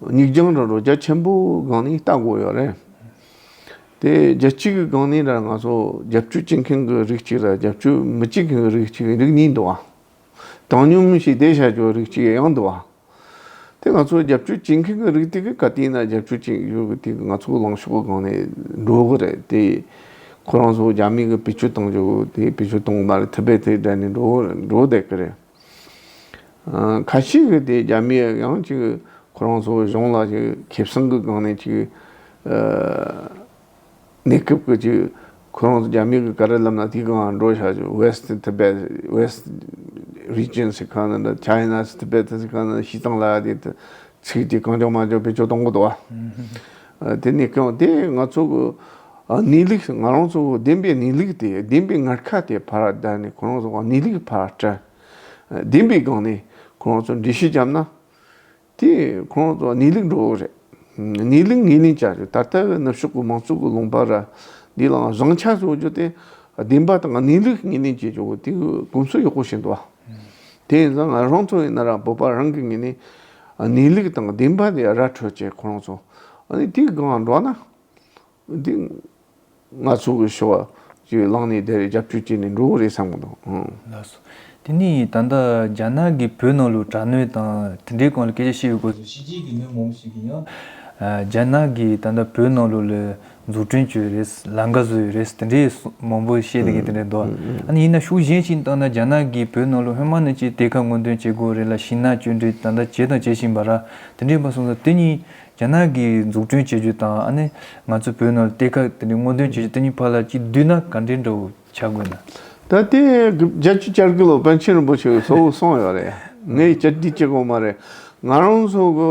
སྙིགས་ལྗང་ར་རོ་རྒྱ་ཆེན་པོ་སྒང་ནས་བལྟ་དགོས་ཡོད་རེད། དེ་རྒྱ་གཅིག་གི་སྒང་ནས་ར་ང་ཚོ་རྒྱབ་སྐྱོར་བྱེད་མཁན་གྱི་རིགས་གཅིག་ར་རྒྱབ་སྐྱོར་མི་བྱེད་མཁན་གྱི་རིགས་གཅིག་རིགས་གཉིས་འདུག་ཨ། དྲང་སྙོམས་ཞིག་བལྟས་བྱ་ཆོག་རིགས་གཅིག་ཡང་འདུག་ཨ། དེ་ང་ཚོ་རྒྱབ་སྐྱོར་བྱེད་མཁན་གྱི་རིགས་དེ་གི་ག་དུས་ན་རྒྱབ་སྐྱོར་བྱེད་ཡུལ་གྱི་དེ་གི་ང་ཚོ་ལངས་ཕྱོགས་སྒང་ནས་འགྲོ་གི་རེད་དེ། ཁོ་རང་ཚོ་རྒྱ་མི་གི་བེད་སྤྱོད་གཏོང་རྒྱུ་དེ་བེད་སྤྱོད་གཏོང་གི་མ་རེད་ཐུབ་པའི་དེ་དྲན་ནས་འགྲོ་འགྲོ་བསྡད་ཀྱི་རེད། ཁ་ཅིག་གིས་དེ་རྒྱ་མི་ཡིས་ཀྱང་ཅིག་ཁོ་རང་ཚོའི་གཞུང་ལ་ཅིག་ཁེ་བཟང་གི་སྒང་ནས་ཅིག་གནས་སྐབས་ཀྱི་ཅིག་ཁོ་རང་ཚོ་རྒྱ་མི་གི་ཀ་ར་ལམ་ན་དེའི་སྒང་ང་འགྲོ་བྱ་ཅིག West Tibet West Region ཟེར་ཁ་ན་འདྲ China's Tibet ཟེར་ཁ་ན་ཞིས་ཙང་ལ་ཡ་དེ་ཚིག་ཅིག་གང་ལྕོགས་མ་ལྕོགས་བེད་སྤྱོད་གཏོང་གི་འདུག་བ། དེ་ནས་ཀྱང་དེ་ང་ཚོ་གི་གནས་ལུགས་ང་རང་ཚོ་བདེན་པའི་གནས་ལུགས་དེ་བདེན་པའི་ངར་ཁ་དེ་ཕར་བསྡད་ནས་ཁོ་རང་ཚོ་གནས་ལུགས་ཕར་བཀྲལ། བདེན་པའི་སྒང་ནས་ཁོ་རང་ཚོ་འགྲེལ་བཤད་བརྒྱབ་ན། དེ་ཁོ་རང་ཚོ་གནས་ལུགས་འགྲོ་རེད། གནས་ལུགས་ངོས་ལེན་བྱ་རེད་ད་ལྟ་གི་ནུབ་ཕྱོགས་ཀྱི་མང་གཙོ་གི་ལུང་པ་ར་འདི་ལའང་བཟང་ཆ་བཟོ་རྒྱུ་དེ་བདེན་པ་དང་གནས་ལུགས་ངོས་ལེན་བྱེད་རྒྱུ་དེ་གོམས་སྲོལ་ཡག་པོ་བྱེད་འདུག་བ། དེ་ཡིན་ཙང་རང་ཚོ་ཡིན་ན་ར་བོད་པ་རང་གི་ངོས་ནས་གནས་ལུགས་དང་བདེན་པ་དེ་ར་འཕྲོད་ཅེས་ཁོ་རང་ཚོ་དེའི་སྒང་འགྲོ་ན། དེ་ང་ཚོ་གི་ཞོ་ཀྱི་བླངས་ནས་དེར་རྒྱབ་སྐྱོར་བྱས་ནས་འགྲོ་གི་རེད་བསམ་གི་འདུག། ལགས་སོ། དེ་ནས་ད་ལྟ་རྒྱ་ནག་གིས་བོད་ནང་ལུགས་དྲག་གནོན་དང་དེ་འབྲེལ་གང་ལ་སྐད་ཆ་བཤད་ཡོད་སྐོར་སོགས་ཤེས་ཀྱི་ཡོད་མོད་མ་འོངས་པ་ཞིག་ཡིན་ཡང། རྒྱ་ནག་གིས་ད་ལྟ་བོད་ནང་ལུགས་ལ། འཛུགས་སྐྲུན་བྱས་ཡོད་རེད། ལམ་ཀ་བཟོས་ཡོད་རེད་དེ་འདྲའི་མང་པོ་བཤད་དགོས་དེ་འདྲའི་འདུག་ཨ་ནི་ཡིན་ན་ཤུགས་གཞན་ཞིག་བཏང་ན་རྒྱ་ནག་གིས་བོད་ནང་ལོ་ཧོན་མ་ནི་ཅིག་གཏེར་ཁ་སྔོན་འདོན་བྱེད་དགོས་རེད་ལ་ཤིང་ནགས་གཅོད་འབྲེག་ད་ལྟ་བྱས་དང་བྱེད་བཞིན་པ་ར་དེ་འདྲའི་པ་སོང་ཙང་དེ་གཉིས་རྒྱ་ནག་གིས་འཛུགས་སྐྲུན་བྱེད་རྒྱུ་དང་ཨ་ནི་ང་ཚོས་བོད་ནང་ལ་གཏེར་ཁ་དེ་འདྲའི་སྔོན་འདོན་བྱེད་རྒྱུ་དེ་གཉིས་བར་ལ་གཅིག་བསྡུས་ན་ག་འདྲའི་འདྲ་བོ་བྱ་དགོས་ན། ད་ལྟའི་རྒྱལ་སྤྱིའི་བསྐྱར་སྐུ་ལོ་པཎ་ཆེན་རིན་པོ་ཆེ་གི་ཚོགས་སོང་ཡོད་རེད། ངས་བསྐྱར་སྒྲིག་བྱེད་དགོས་མ་རེད། ང་རང་ཚོ་གི།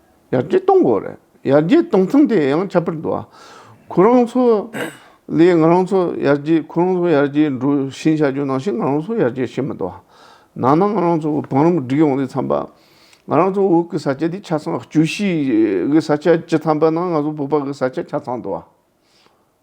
ཡར་རྒྱས་གཏོང་དགོས་རེད། ཡར་རྒྱས་གཏོང་མཚམས་དེ་ཡང་ཁྱད་པར་དུ། ཁོ་རང་ཚོ་ལས་ང་རང་ཚོ་ཡར་རྒྱས་ཁོ་རང་ཚོ་ཡར་རྒྱས་འགྲོ་བཞིན་བྱ་རྒྱུ་ནང་བཞིན་ང་རང་ཚོ་ཡར་རྒྱས་བྱེད་མི་ཐུབ། ནང་ན་ང་རང་ཚོ་བང་རིམ་བསྒྲིགས་ཡོང་དུས་འཚམས་པ། ང་རང་ཚོ་འུག་གི་ས་ཆ་དེ་ཆ་ཚང་བཅུ་བཞི་གི་ས་ཆ་བཅུ་ཐམ་པ་ན་ང་ཚོ་བུག་པ་གི་ས་ཆ་ཆ་ཚང་དུ།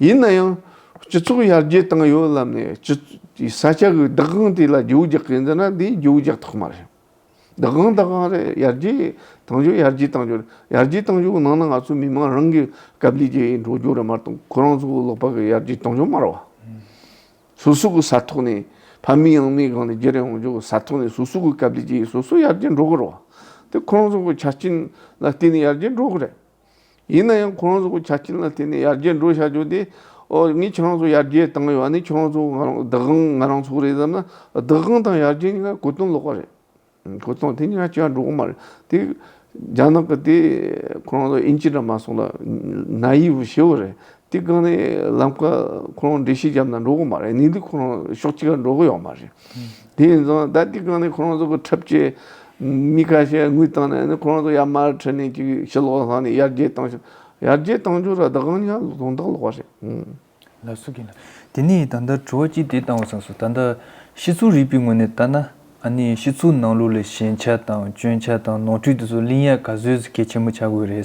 ཡིན་ན་ཡང་སྤྱི་ཚོགས་ཡར་རྒྱས་བཏང་ཡོད་ལབ་ནས་སྤྱི་ཡི་ས་ཆ་གི་བདག་དབང་དེ་ལ་རྒྱུག་རྒྱག་གི་འདི་ན་འདི་རྒྱུག་རྒྱག་ཐག་མ་རེད། བདག་དབང་བདག་དབང་རེད་ཡར་རྒྱས་བཏང་རྒྱུ་ཡར་རྒྱས་བཏང་རྒྱུ་རེད་ཡར་རྒྱས་བཏང་རྒྱུ་ནང་ན་ང་ཚོ་མི་དམངས་རང་གི་སྐབས་འདི་རྒྱས་འགྲོ་རྒྱུ་རེད་མ་གཏོགས་ཁོ་རང་ཚོ་ལོག་པ་གི་ཡར་རྒྱས་གཏོང་རྒྱུ་མ་རེད་བ། སོ་སོ་གི་ས་ཐོག་ནས་ཕ་མེས་ཡང་མེས་སྒང་ནས་རྒྱལ་རེད་འོང་རྒྱུ་ས་ཐོག་ནས་སོ་སོ་གི་སྐབས་འདི་རྒྱས་སོ་སོ་ཡར་རྒྱས་འགྲོ་གི་རེད་བ། དེ་ཁོ་རང་ཚོ་གི་ཆ་རྐྱེན་ལ་བརྟེན་ནས་ཡར་རྒྱས་འགྲོ་གི་རེད། ཡིན་ན་ཡང་ཁོ་རང་ཚོ་གི་ཆ་རྐྱེན་ལ་བརྟེན་ནས་ཡར་རྒྱས་འགྲོ་བྱ་རྒྱུ་དེ། ཨོ་ངས་ཁྱོད་རང་ཚོ་ཡར་རྒྱས་བཏང་ཡོད་ནི་ཁྱོད་རང་ཚོ་བདག་དབང་ང་རང་ཚོ་རེད་བསམ་ན། བདག་དབང་དང་ཡར་རྒྱས་གཉིས་ཀ་གོ་དོན་ལོག་པ་རེད། གོ་དོན་དེ་གཉིས་ཀ་གཅིག་ཡང་འགྲོ་གི་མ་རེད། དེ་རྒྱ་ནག་གི་དེ་ཁོ་རང་ཚོ་ཨིན་ཇི་དྲ་མ་སོགས་ལ་ན་ཡིས་བུ་ཞེ་བོ་རེད། དེ་སྒང་ནས་ལམ་ཁ་ཁོ་རང་འབྲི་ཤེས་རྒྱབ་ན་འགྲོ་གི་མ་རེད་ནིང་འདི་ཁོ་རང་ཕྱོགས་གཅིག་ལ་འགྲོ་གི་ཡོད་མ་རེད། དེ་ཡིན་ཙང་ད་དེ་སྒང་ནས་ཁོ་རང་ཚོ་གི་འཁྲབ་ཆས་མི་ཁ་ཤས་དངུལ་བཏང་ནས་ནི་ཁོ་རང་ཚོ་ཡར་མར་ཁྲིད་ནས་ཅིག་ཕྱི་ལོག་ལ་ལྷག་ནས་ཡར་རྒྱས་བཏང་ཞིག་ཡར་རྒྱས་བཏང་རྒྱུ་ར་ད་གང་ཡང་དོན་དག་ལོག་པ་རེད། ལ་སུ་གི་ན། དེ་ནས་ད་ལྟ་དྲི་བ་གཅིག་དེ་བཏང་བ་ཚང་སོང་ད་ལྟ་ཕྱི་ཚུལ་རིག་པའི་ངོས་ནས་བལྟ་ན་ཨ་ནི་ཕྱི་ཚུལ་ནང་ལུགས་ལ་ཞན་ཆ་དང་སྐྱོན་ཆ་དང་ནོར་འཁྲུལ་དེ་ཚོ་གླིང་ཡག་ག་བཟོས་ཚེ་གལ་ཆེན་པོ་ཆགས་དགོས་རེད།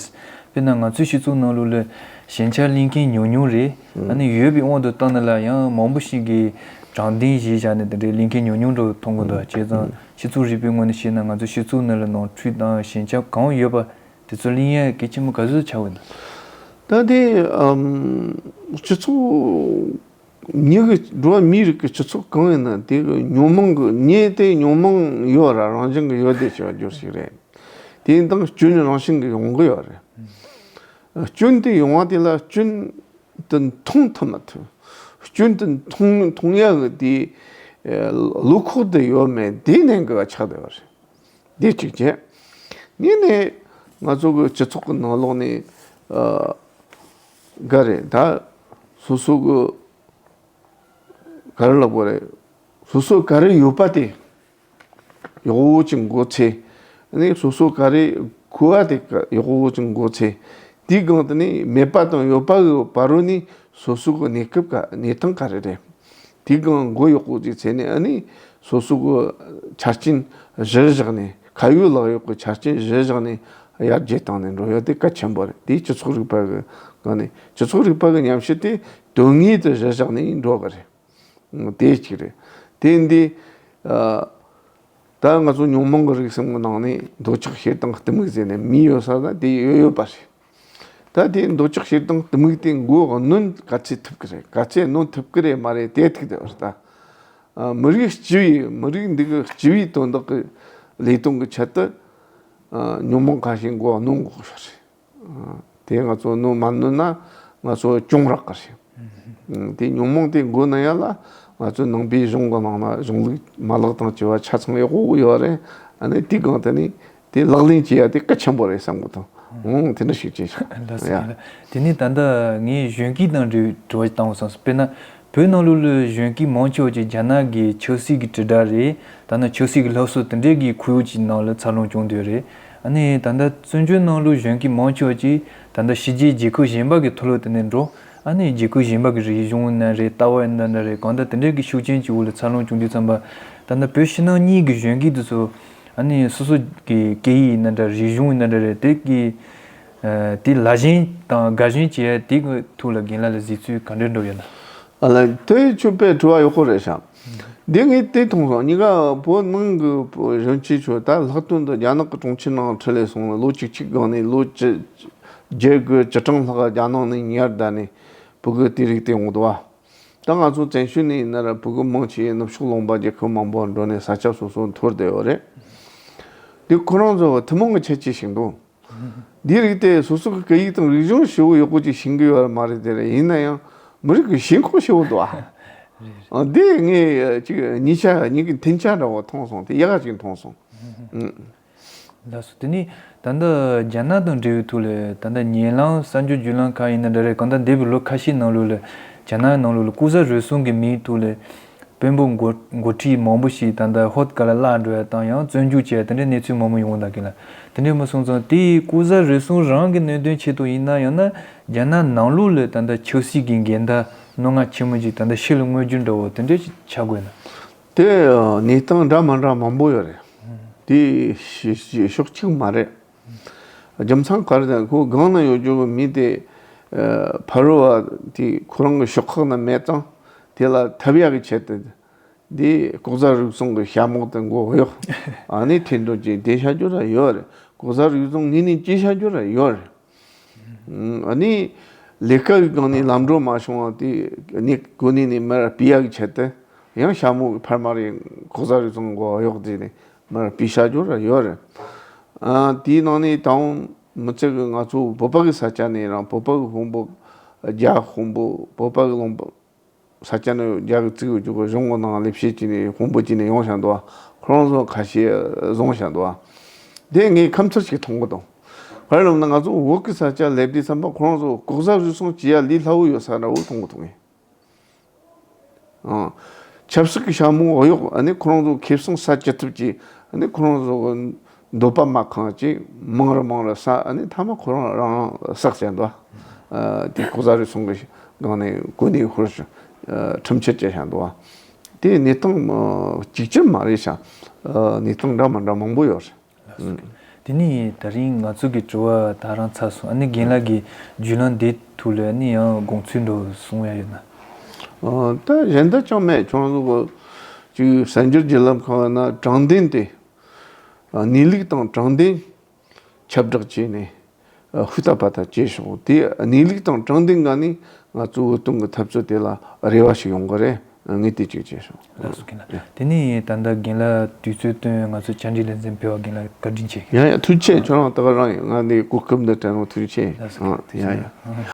དཔེར་ན་ང་ཚོའི་ཕྱི་ཚུལ་ནང་ལུགས་ལ་ཞན་ཆ་གླིང་མཁན་ཉུང་ཉུང་རེད། ཨ་ནི་ཡོད་པའི་དབང་དུ་བཏང་ན་ལ་ཡང་མང་པོ་ཞིག་གིས་དྲང་བདེན་གཞི་བཞག་ནས་དེ་འདྲའི་གླིང་མཁན་ཉུང་ཉུང་འདྲ་བོ་མཐོང་གི་འདུག་བྱས་ཙང་ཕྱི་ཚུལ་རིག་པའི་ངོས་ནས་བཤད་ན་ང་ཚོའི་ཕྱི་ཚུལ་ནང་ལ་ནོར་འཁྲུལ་དང་ཞན་ཆ་གང་ཡོད་པ་དེ་ཚོ་གླིང་ཡག་གལ་ཆེན་པོ་ག་བཟོས་ཆགས་དགོས་འདུག། ད་དེ་ཕྱི་ཚུལ་ཉིད་ཀྱི་འགྲོ་བ་མིའི་རིགས་ཀྱི་སྤྱི་ཚོགས་གང་ཡིན་ན་དེ་གི་ཉོན་མོངས་ཀྱི་ཉེས་དེ་ཉོན་མོངས་ཡོད་ར་རང་བཞིན་གྱི་ཡོད་དེ་ཞེས་པ་བསྒྱུར་ཞིག་རེད། དེ་ཡིན་སྟངས་སྐྱོན་ནི་རང་བཞིན་གྱི་ཡོང་གི་ཡོད་རེད། སྐྱོན་དེ་ཡོང་བ་དེ་ལ་སྐྱོན་དེ་མཐོང་ཐུབ་མ་ཐུབ། སྐྱོན་དེ་མཐོང་ཡག་གི་དེ་ལུགས་ཁོག་དུ་ཡོད་མེད་དེ་ནས་འགལ་བ་ཆགས་བསྡད་པ་རེད། དེ་གཅིག་བྱས། གཉིས་ནས་ང་ཚོ་གི་སྤྱི་ཚོགས་ཀྱི་ནང་ལོགས་ནས། འགའ་རེས་ད་སོ་སོ་གི་ག་རེ་ལོག་པ་རེད། སོ་སོ་ག་རེ་ཡོད་པ་དེ་གཡོག་བོ་ཅིག་མགོ་ཚེ་ནི་སོ་སོ་ག་རེ་ཁུ་བ་དེ་གཡོག་བོ་ཅིག་མགོ་ཚེ། དེའི་སྒང་དུ་ནི་མེད་པ་དང་ཡོད་པ་གི་བར་རུ་ནི་སོ་སོ་གི་གནས་སྐབས་ག་གནས་སྟངས་ག་རེ་རེད། དེའི་སྒང་མགོ་ཡོག་པོ་ཅིག་བྱས་ནས་ཨ་ནི། སོ་སོ་གི་ཆ་རྐྱེན་གཞིར་བཞག་ནས། ཁ་ཡོད་ལག་ཡོད་ཀྱི་ཆ་རྐྱེན་གཞིར་བཞག་ནས། ཡར་རྒྱས་བཏང་ནས་འགྲོ་ཡ་དེ་གལ་ཆེན་པོ་རེད་དེ་སྤྱི་ཚོགས་རིག་པ་གི་སྒང་ནས། སྤྱི་ཚོགས་རིག་པ་གི་ཉམས་ཞིབ་དེ་དོན་དངོས་དེ་གཞིར་བཞག་ནས་འགྲོ་གི་རེད། དེ་གཅིག་རེད། དེ་འདི། ད་ང་ཚོ་ཉོང་མོང་གི་རིག་སེམས་གི་ནང་ནས་འདོད་ཆགས་ཞེ་སྡང་གཏི་མུག་ཟེར་ནས་མི་ཡོད་ས་ན་དེ་ཡོད་ཡོད་པ་རེད། ད་དེའི་འདོད་ཆགས་ཤེས་དང་དམིགས་དེ་མགོ་གནོན་ག་ཚད་ཐུབ་ཀྱི་རེད་ག་ཚད་གནོན་ཐུབ་ཀྱི་རེད་མ་རེད་དེ་ཐིག་དེ་བ་ལྟ། མི་རིགས་སྤྱི་བའི་མི་རིགས་འདི་གི་སྤྱི་བའི་དོན་དག་གི་ལས་དོན་གྱི་ཆེད་དུ། ཉོན་མོངས་ཁ་ཤས་མགོ་གནོན་དགོས་ཀྱི་རེད། དེ་ང་ཚོ་གནོན་མ་གནོན་ན་ང་ཚོ་སྐྱོང་རག་གི་རེད། དེ་ཉོན་མོངས་དེ་མགོ་གནོན་ཡ་ལ་ང་ཚོའི་ནང་པའི་གཞུང་གི་ནང་ན་གཞུང་ལུགས་མ་ལག་དང་བཅས་པ་ཆ་ཚང་ཡག་པོ་ཡོད་རེད། ཨ་ནི་དེ་གང་དེ་ནི་དེ་ལག་ལེན་བྱེད་ཡ་དེ་གལ་ཆེན་པོ་རེད་བསམ་གོ་ཐོང། དེ་འདྲ་ཞིག་བྱས་ཤིང། དེ་ནས་ད་ལྟ་ངས་གཞོན་སྐྱེས་དང་འབྲེལ་བའི་དྲི་བ་ཞིག་བཏང་བ་བསམ་སོང། དཔེར་ན། བོད་ནང་ལོ་ལོའི་གཞོན་སྐྱེས་མང་ཆེ་བ་ཅིག་རྒྱ་ནག་གི་ཆོས་སྲིད་ཀྱི་དྲིལ་བསྒྲགས་རེད། ད་ནི་ཆོས་སྲིད་ཀྱི་སློབ་གསོ་དེ་འདྲས་ཀྱི་ཁུར་ཡོག་ཅིག་ནང་ལ་འཚར་ལོངས་བྱུང་དོན་རེད། ཨ་ནི་ད་ལྟ་བཙོན་བྱོལ་ནང་ལོའི་གཞོན་སྐྱེས་མང་ཆེ་བ་ཅིག་ད་ལྟ་ཕྱི་རྒྱལ་རྒྱལ་ཁབ་གཞན་པ་གི་ཐོ་ལོ་དེ་ནས་འགྲོ། ཨ་ནི་རྒྱལ་ཁབ་གཞན་པ་གི་རིག་གཞུང་ཨེ་འདྲ་རེད་ལྟ་བ་ཨེ་འདྲ་འདྲ་རེད་གང་ལྟར་དེ་འདྲས་ཀྱི་ཤུགས་རྐྱེན་གྱི་འོག་ལ་འཚར་ལོངས་བྱུང་དུས་བསམ་པ། ད་ལྟ་བོད་ཕྱི་ནང་གཉིས་ཀྱི་གཞོན་སྐྱེས་དེ་ཚོ། ཨ་ནི་སོ་སོ་གི་སྐད་ཡིག་ནི་འདྲ་རིག་གཞུང་ནི་འདྲ་རེད་དེ་གི་དེ་ལ་བཞིན་དང་དགའ་བཞིན་བྱས་དེ་གི་ཐུགས་ལ་རྒན་ལ་ལ་ཟིག་ཚུལ་ག་འདྲའི་འགྲོ་ཡོད་ན། ཨ་ལ་དེ་ཆོས་དཔེ་དྲི་བ་ཡོད་ཁོ་རེད་བྱམས། དེ་ངས་དེ་མཐོང་སོང་གཉིས་ཀ་བོད་ནང་གི་གཞོན་སྐྱེས་ཚོས་ད་ལྷག་དོན་དུ་རྒྱ་ནག་གི་གྲོང་ཁྱེར་ནང་ཁྲི་ལས་སོང་ལ་ལོ་གཅིག་གཅིག་གང་ནས་ལོ་བརྒྱད་དགུ་བཅུ་གྲངས་ལྷག་རྒྱ་ནག་ནས་ཉར་བསྡད་ནས་བོད་གི་དེ་རིགས་དེ་འོང་དུ་བ། ད་ང་ཚོ་བཙན་བྱོལ་ནས་ཡིན་ན་ར་བོད་ཀྱི་མང་ཆེ་ཡིས་ནུབ་ཕྱོགས་ལོངས་པ་རྒྱལ་ཁབ་མང་པོར་འགྲོ་ནས་ས་ཆ་སོ་སོར་འཐོར་བསྡད་ཡོད་རེད། འདི་ཁོ་རང་ཚོའི་ཐུན་མོང་གི་ཁྱད་ཆོས་ཤིག་འདུག་འདིའི་རིགས་དེ་སོ་སོ་གི་སྐད་ཡིག་དང་རིག་གཞུང་ཧྲིལ་བོ་ཡོད་སྐོར་ཅིག་བྱིན་གྱི་ཡོད་མ་རེད་དེ་ཡིན་ན་ཡང་མི་རིགས་ཀྱི་ཞེན་ཁོག་ཧྲིལ་བོ་འདུག་ཨ། འདི་ངས་ཅིག་ཉིན་ཞག་ཉིན་གྱི་མཐུན་ཆ་འདྲ་བོ་མཐོང་སོང་དེ་ཡག་ཅིག་མཐོང་སོང། ལགས་སོ། དེ་ནི་ད་ལྟ་རྒྱ་ནག་དང་འབྲེལ་བའི་ཐོག་ལས་ད་ལྟ་ཉེ་ལམ་གསར་འགྱུར་བརྒྱུད་ལམ་ཁག་ཡིན་ན་འདྲ་རེད་གང་ལྟར་འདས་པའི་ལོ་ཁ་ཤས་ནང་ལོགས་ལས་རྒྱ་ནག་ནང་ལོགས་ལ་ལྐུགས་ཟ་རུལ་སུངས་ཀྱི་མིའི་ཐོག་ལས་དཔོན་པོ་མགོ་ཁྲིད་མང་པོ་ཞིག་ད་ལྟ་ཧོད་ག་ལ་བརླག་འགྲོ་ཡ་དང་ཡང་བཙོན་འཇུག་བྱས་དེ་འདྲའི་གནས་ཚུལ་མང་པོ་ཡོང་གི་འདག་གི་ལ་དེ་འདྲའི་མི་སོང་ཙང་དེ་ལྐུགས་ཟ་རུལ་སུངས་རང་གི་གནོད་དོན་ཆེད་དུ་ཡིན་ན་ཡང་ན་རྒྱ་ནག་ནང་ལོགས་ལས་ད་ལྟ་ཆབ་སྲིད་ཀྱི་འགལ་ཟླ་རྣོ་ངར་ཆེན་མོ་ཅིག་ད་ལྟ་ཕྱི་ལ་མངོན་རྒྱུ་འདྲ་བོ་དེ་འདྲའི་ཞིག་ཆགས་དགོས་ན། དེ་ནི་སྟངས་འདྲ་མ་འདྲ་མང་པོ་ཡོད་རེད། དེ་ཕྱོགས་གཅིག་མ་རེད། རྒྱམ་ཚང་གར་དང་ཁོའི་སྒང་ན་ཡོད་རྒྱུ་བའི་མི་དེ་ཕ་རོལ་བ་དེ་ཁོ་རང་གི་ཤོག་ཁག་ན་མེད་སྟངས་དེ་ལ་ཐབས་ཡག་གི་ཆེད་དུ་དེ་ལྐོག་ཟ་རུལ་སུངས་གི་ཞྭ་མོག་དེ་མགོ་གཡོག་ཨ་ནེ་ཐེ་འདོན་གྱིས་བསྡད་ཤ་རྒྱུ་ར་ཡོད་རེད་ལྐོག་ཟ་རུལ་སུངས་གཉིས་ནི་སྐྱིད་ཤ་རྒྱུ་ར་ཡོད་རེད། ནི། ལས་ཀ་ཡི་སྒང་ནས་ལམ་འགྲོ་མ་བྱུང་བ་དེ་ནི་གོ་གནས་ནས་མར་སྤི་ཡག་བྱས་ཏེ། ཡང་ཞྭ་མོ་ཕར་མ་རེད་ཁོ་ཟ་རེད་ཙང་གོ་གཡོག་བྱས་ནས་མར་སྤི་བྱ་རྒྱུ་ར་ཡོད་རེད། དེའི་ནང་ནས་ད་འོང་མི་ཚེ་གི་ང་ཚོ་བོད་པ་གི་ས་ཆ་ནས་རང་བོད་པ་གི་དཔོན་པོ་རྒྱ་དཔོན་པོ་བོད་པ་གི་ལོངས་པ་ས་སྐྱ་ནི་རྒྱ་གི་རྩིག་འོད་ཀྱི་སྒོ་གཞོང་གི་ནང་སླེབས་ཤེས་ཀྱི་ནས་ཧོང་པོ་ཀྱི་ནས་ཡོང་བཞག་འདུག་ཁོ་རང་ཚོ་ཁ་ཤས་བཟུང་བཞག་འདུག་དེ་ངས་ཁམས་ཚུར་ཞིག་མཐོང་གི་འདུག་ཧོལ་རློམ་ན་ང་ཚོ་འུག་གི་ས་སྐྱ་སླེབས་དུས་བསམ་པ་ཁོ་རང་ཚོ་ལྐོག་ཟ་རུལ་སུངས་བྱེད་ཡ་ལི་སླ་བོ་ཡོད་ས་འདྲ་བོ་མཐོང་གི་འདུག་ངས། ཆབ་སྲིད་ཀྱི་ཤ་མོང་འོ་ཡོག་ཨ་ནི་ཁོ་རང་ཚོ་ཁེབས་སོང་ས་སྐྱ་ཐུབ་ཀྱི་ཨ་ནི་ཁོ་རང་ཚོ། འདོད་པ་མ་གང་ཅིག་མང་རུ་མང་རུ་ས་ནི་ཐ་མ་ཁོ་རང་རང་བསགས་བྱ་འདུ་དེ་ལྐོག་ཟ་རུལ་སུངས་ཀྱི་སྒང་ནས་ཀུན་ནས་ཧུར་བྱ་ཁྲིམས་ཆད་བཅད་བྱ་འདུ་དེ་གནས་སྟངས་གཅིག་གྱུར་མ་རེད་བྱ་གནས་སྟངས་འདྲ་མ་འདྲ་མང་པོ་ཡོད་རེད། དེ་ནས་ད་རིང་ང་ཚོ་གི་དྲི་བ་དག་རང་ཚར་སོང་ཨ་ནི་རྒན་ལགས་ཀྱི་བརྒྱུད་ལམ་འདི་ཐུགས་ལ་ནི་ཡང་དགོངས་ཚུལ་འགྲོ་སོང་ཡ་ཡོད་ན། ད་གཞན་དག་ཅང་མེད་ཁྱོང་ཚོ་གཅིག་གསར་འགྱུར་བརྒྱུད་ལམ་ཁག་ན་དྲང་བདེན་དེ། གནས་ལུགས་དང་དྲང་བདེན་ཁྱབ་བསྒྲགས་བྱས་ནས་ཧུར་ཐག་པ་ཐག་བཅད་བྱུང། དེ་གནས་ལུགས་དང་དྲང་བདེན་འགའ་ནི་ང་གཙོ་བོ་གཏོང་གི་འཐབ་རྩོད་དེ་ལ་རེ་བ་ཞིག་ཡོང་གི་རེད་ངས་དེ་གཅིག་བྱས་བྱུང། ལགས་སོ་གིན་ལགས་དེ་ནས་ད་ལྟ་རྒན་ལགས་དུས་ཚོད་བཏོན་ང་ཚོའི་བཅར་འདྲི་ལེ་ཚན་ཕེར་བ་རྒན་ལགས་བཀའ་དྲིན་ཆེ། ཡ་ཡ་ཐུགས་ཆེ་ཁྱོད་རང་ལྟ་བ་རང་ཡིན་ང་འདི་གོ་སྐབས་འདི་དྲན་རུང་ཐུགས་ཆེ་ཡ་ཡ།